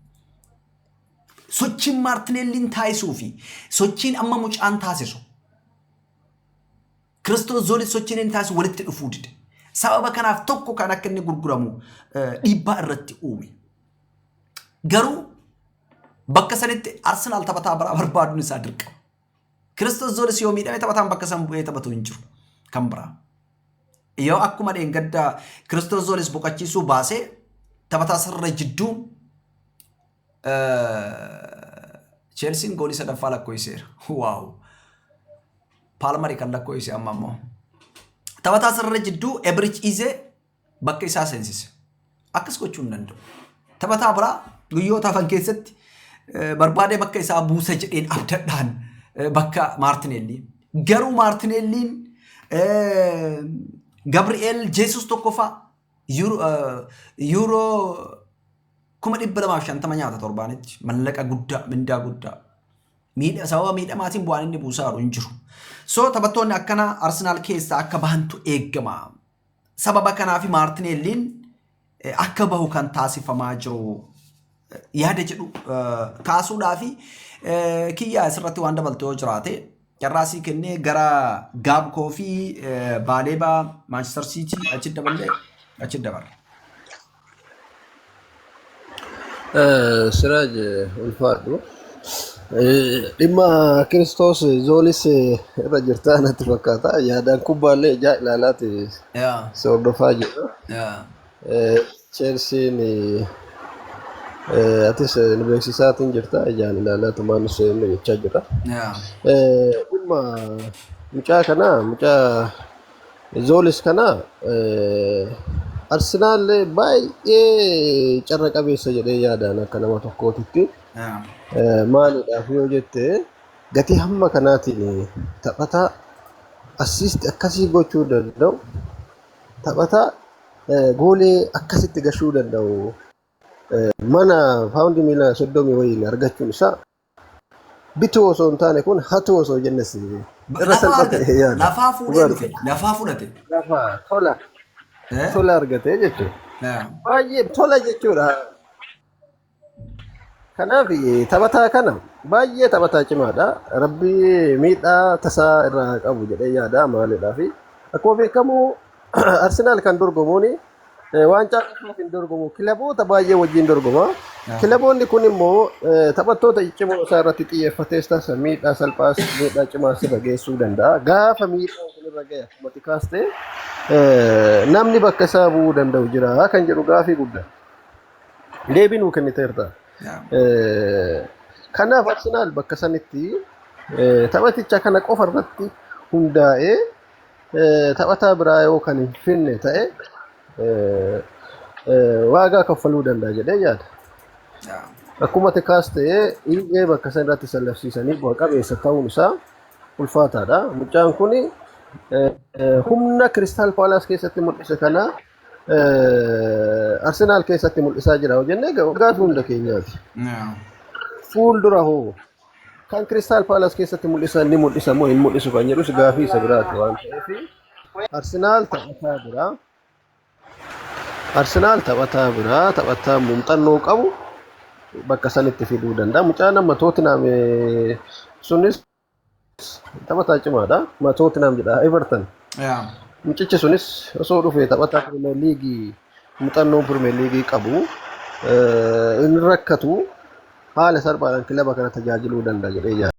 Sochiin Maartineelliin taasisuu fi sochiin amma mucaan taasisu Kiristoos zoonis sochiin inni taasisu walitti dhufuu dide. Sababa kanaaf tokko kan akka inni gurguramu dhiibbaa irratti uume. Garuu bakka sanitti Arsenaal taphataa biraa barbaaduun isaa dirqama. Kiristoos Zoolis yoo miidhame taphataan bakka san bu'ee taphatu hin jiru. Kan biraa. Yoo akkuma dheengaddaa Kiristoos Zoolis boqachiisuu baasee taphataa sirra jidduu Cheelsiin goolii sadaffaa lakkoofsiseera. Waaw! Paalmarii kan lakkoofsise amma ammoo. Taphataa sirra jidduu Ebirich Izee bakka isaa seensise. Akkas gochuu hin danda'u. Taphataa biraa guyyoota hafan keessatti barbaadee bakka isaa buusa jedheen abdadhaan bakka Maartineellii. Garuu Maartineelliin Gabri'eel Jeesus tokkoffaa yuuroo kuma dhibba lamaaf shantama nyaata torbaanitti mallaqa guddaa mindaa guddaa miidha sababa miidhamaatiin bu'aan inni buusaa jiru hin jiru. So taphattoonni akkanaa Arsenaal keessaa akka bahantu eegama. Sababa kanaaf Maartineelliin akka bahu kan taasifamaa jiru yaada jedhu kaasuudhaa fi kiyyaa asirratti waan dabaltu yoo jiraate carraa sii kennee gara Gaabkoo fi Baaleebaa Maanchister Siitii achi daballee achi dabarre. Siraaj ulfaadhu. Dhimma Kiristoos zoonis irra jirtaa natti fakkaata. Yaadaan kubbaallee ijaa ilaalaati Yeah. si hordofaa jirra. Yeah. Eh, Chelsiin eh, atis eh, nu beeksisaatiin jirta ijaan ilaalaa tumaan nu seenne jechaa jirra. Yeah. Eh, Dhimma mucaa kanaa mucaa Zoolis kana Arsenaal baay'ee carra qabeessa jedhee yaadaan akka nama tokkootitti maaliidhaaf yoo jette gatii hamma kanaatiin taphataa assiisti akkasii gochuu danda'u taphataa goolee akkasitti gashuu danda'u mana paawundi miila soddomii wayiin argachuun isaa Bituu osoo hin taane kun hatuu osoo jenne si. Irra Lafa salphate argate. yaada. Lafaa fuudhee Dhugaa dhufe. Lafaa fudhate. Lafa tola Eh? tola argatee jechuudha. Eh. Baay'ee tola jechuudha. Kanaaf eh, taphataa kana baay'ee taphataa cimaadha. Rabbi miidhaa tasaa irraa haa qabu jedhee yaada maalidhaa fi akkuma beekamu Arsenaal kan dorgomuun Eh, Waancaa qofaaf hin dorgomu. Kilaboota baay'ee wajjin dorgoma. Aha. Kilaboonni kun immoo eh, taphattoota ciccimoo isaa irratti xiyyeeffatees taasa miidhaa salphaas miidhaa cimaas irra geessuu danda'a. Gaafa miidhaan kun irra gahe akkuma xiqaaste eh, namni bakka isaa bu'uu danda'u jira kan jedhu gaafii guddaa. Deebii nuu kenniteerta. Yaa. Eh, Kanaaf Arsenaal bakka sanitti eh, taphaticha kana qofa irratti hundaa'ee taphataa biraa yoo kan hin finne ta'e waagaa kaffaluu danda'a jedhee yaada. Akkuma tikaas ta'ee dhiibbee bakka san irratti sallabsiisanii bu'a qabeessa ta'uun isaa ulfaataadha. Mucaan kun humna Kiristaal Paalaas keessatti mul'ise kana Arsenaal keessatti mul'isaa jira hojjennee waggaa hunda keenyaati. Fuuldura hoo Kan Kiristaal Paalas keessatti mul'isan ni mul'isa moo hin mul'isu kan jedhus gaafii isa biraati waan ta'eef Arsenaal taphataa biraa Arsenaal taphataa biraa taphataa muuxannoo qabu bakka sanitti fiduu danda'a. Mucaa nama Tootinam sunis taphataa cimaadha. Ma Tootinam jedha Everton. Yaa. Mucichi sunis osoo dhufee taphataa Pirimeer Liigii muuxannoo Pirimeer Liigii qabu hin rakkatu haala salphaadhaan kilaba kana tajaajiluu danda'a jedhee yaada.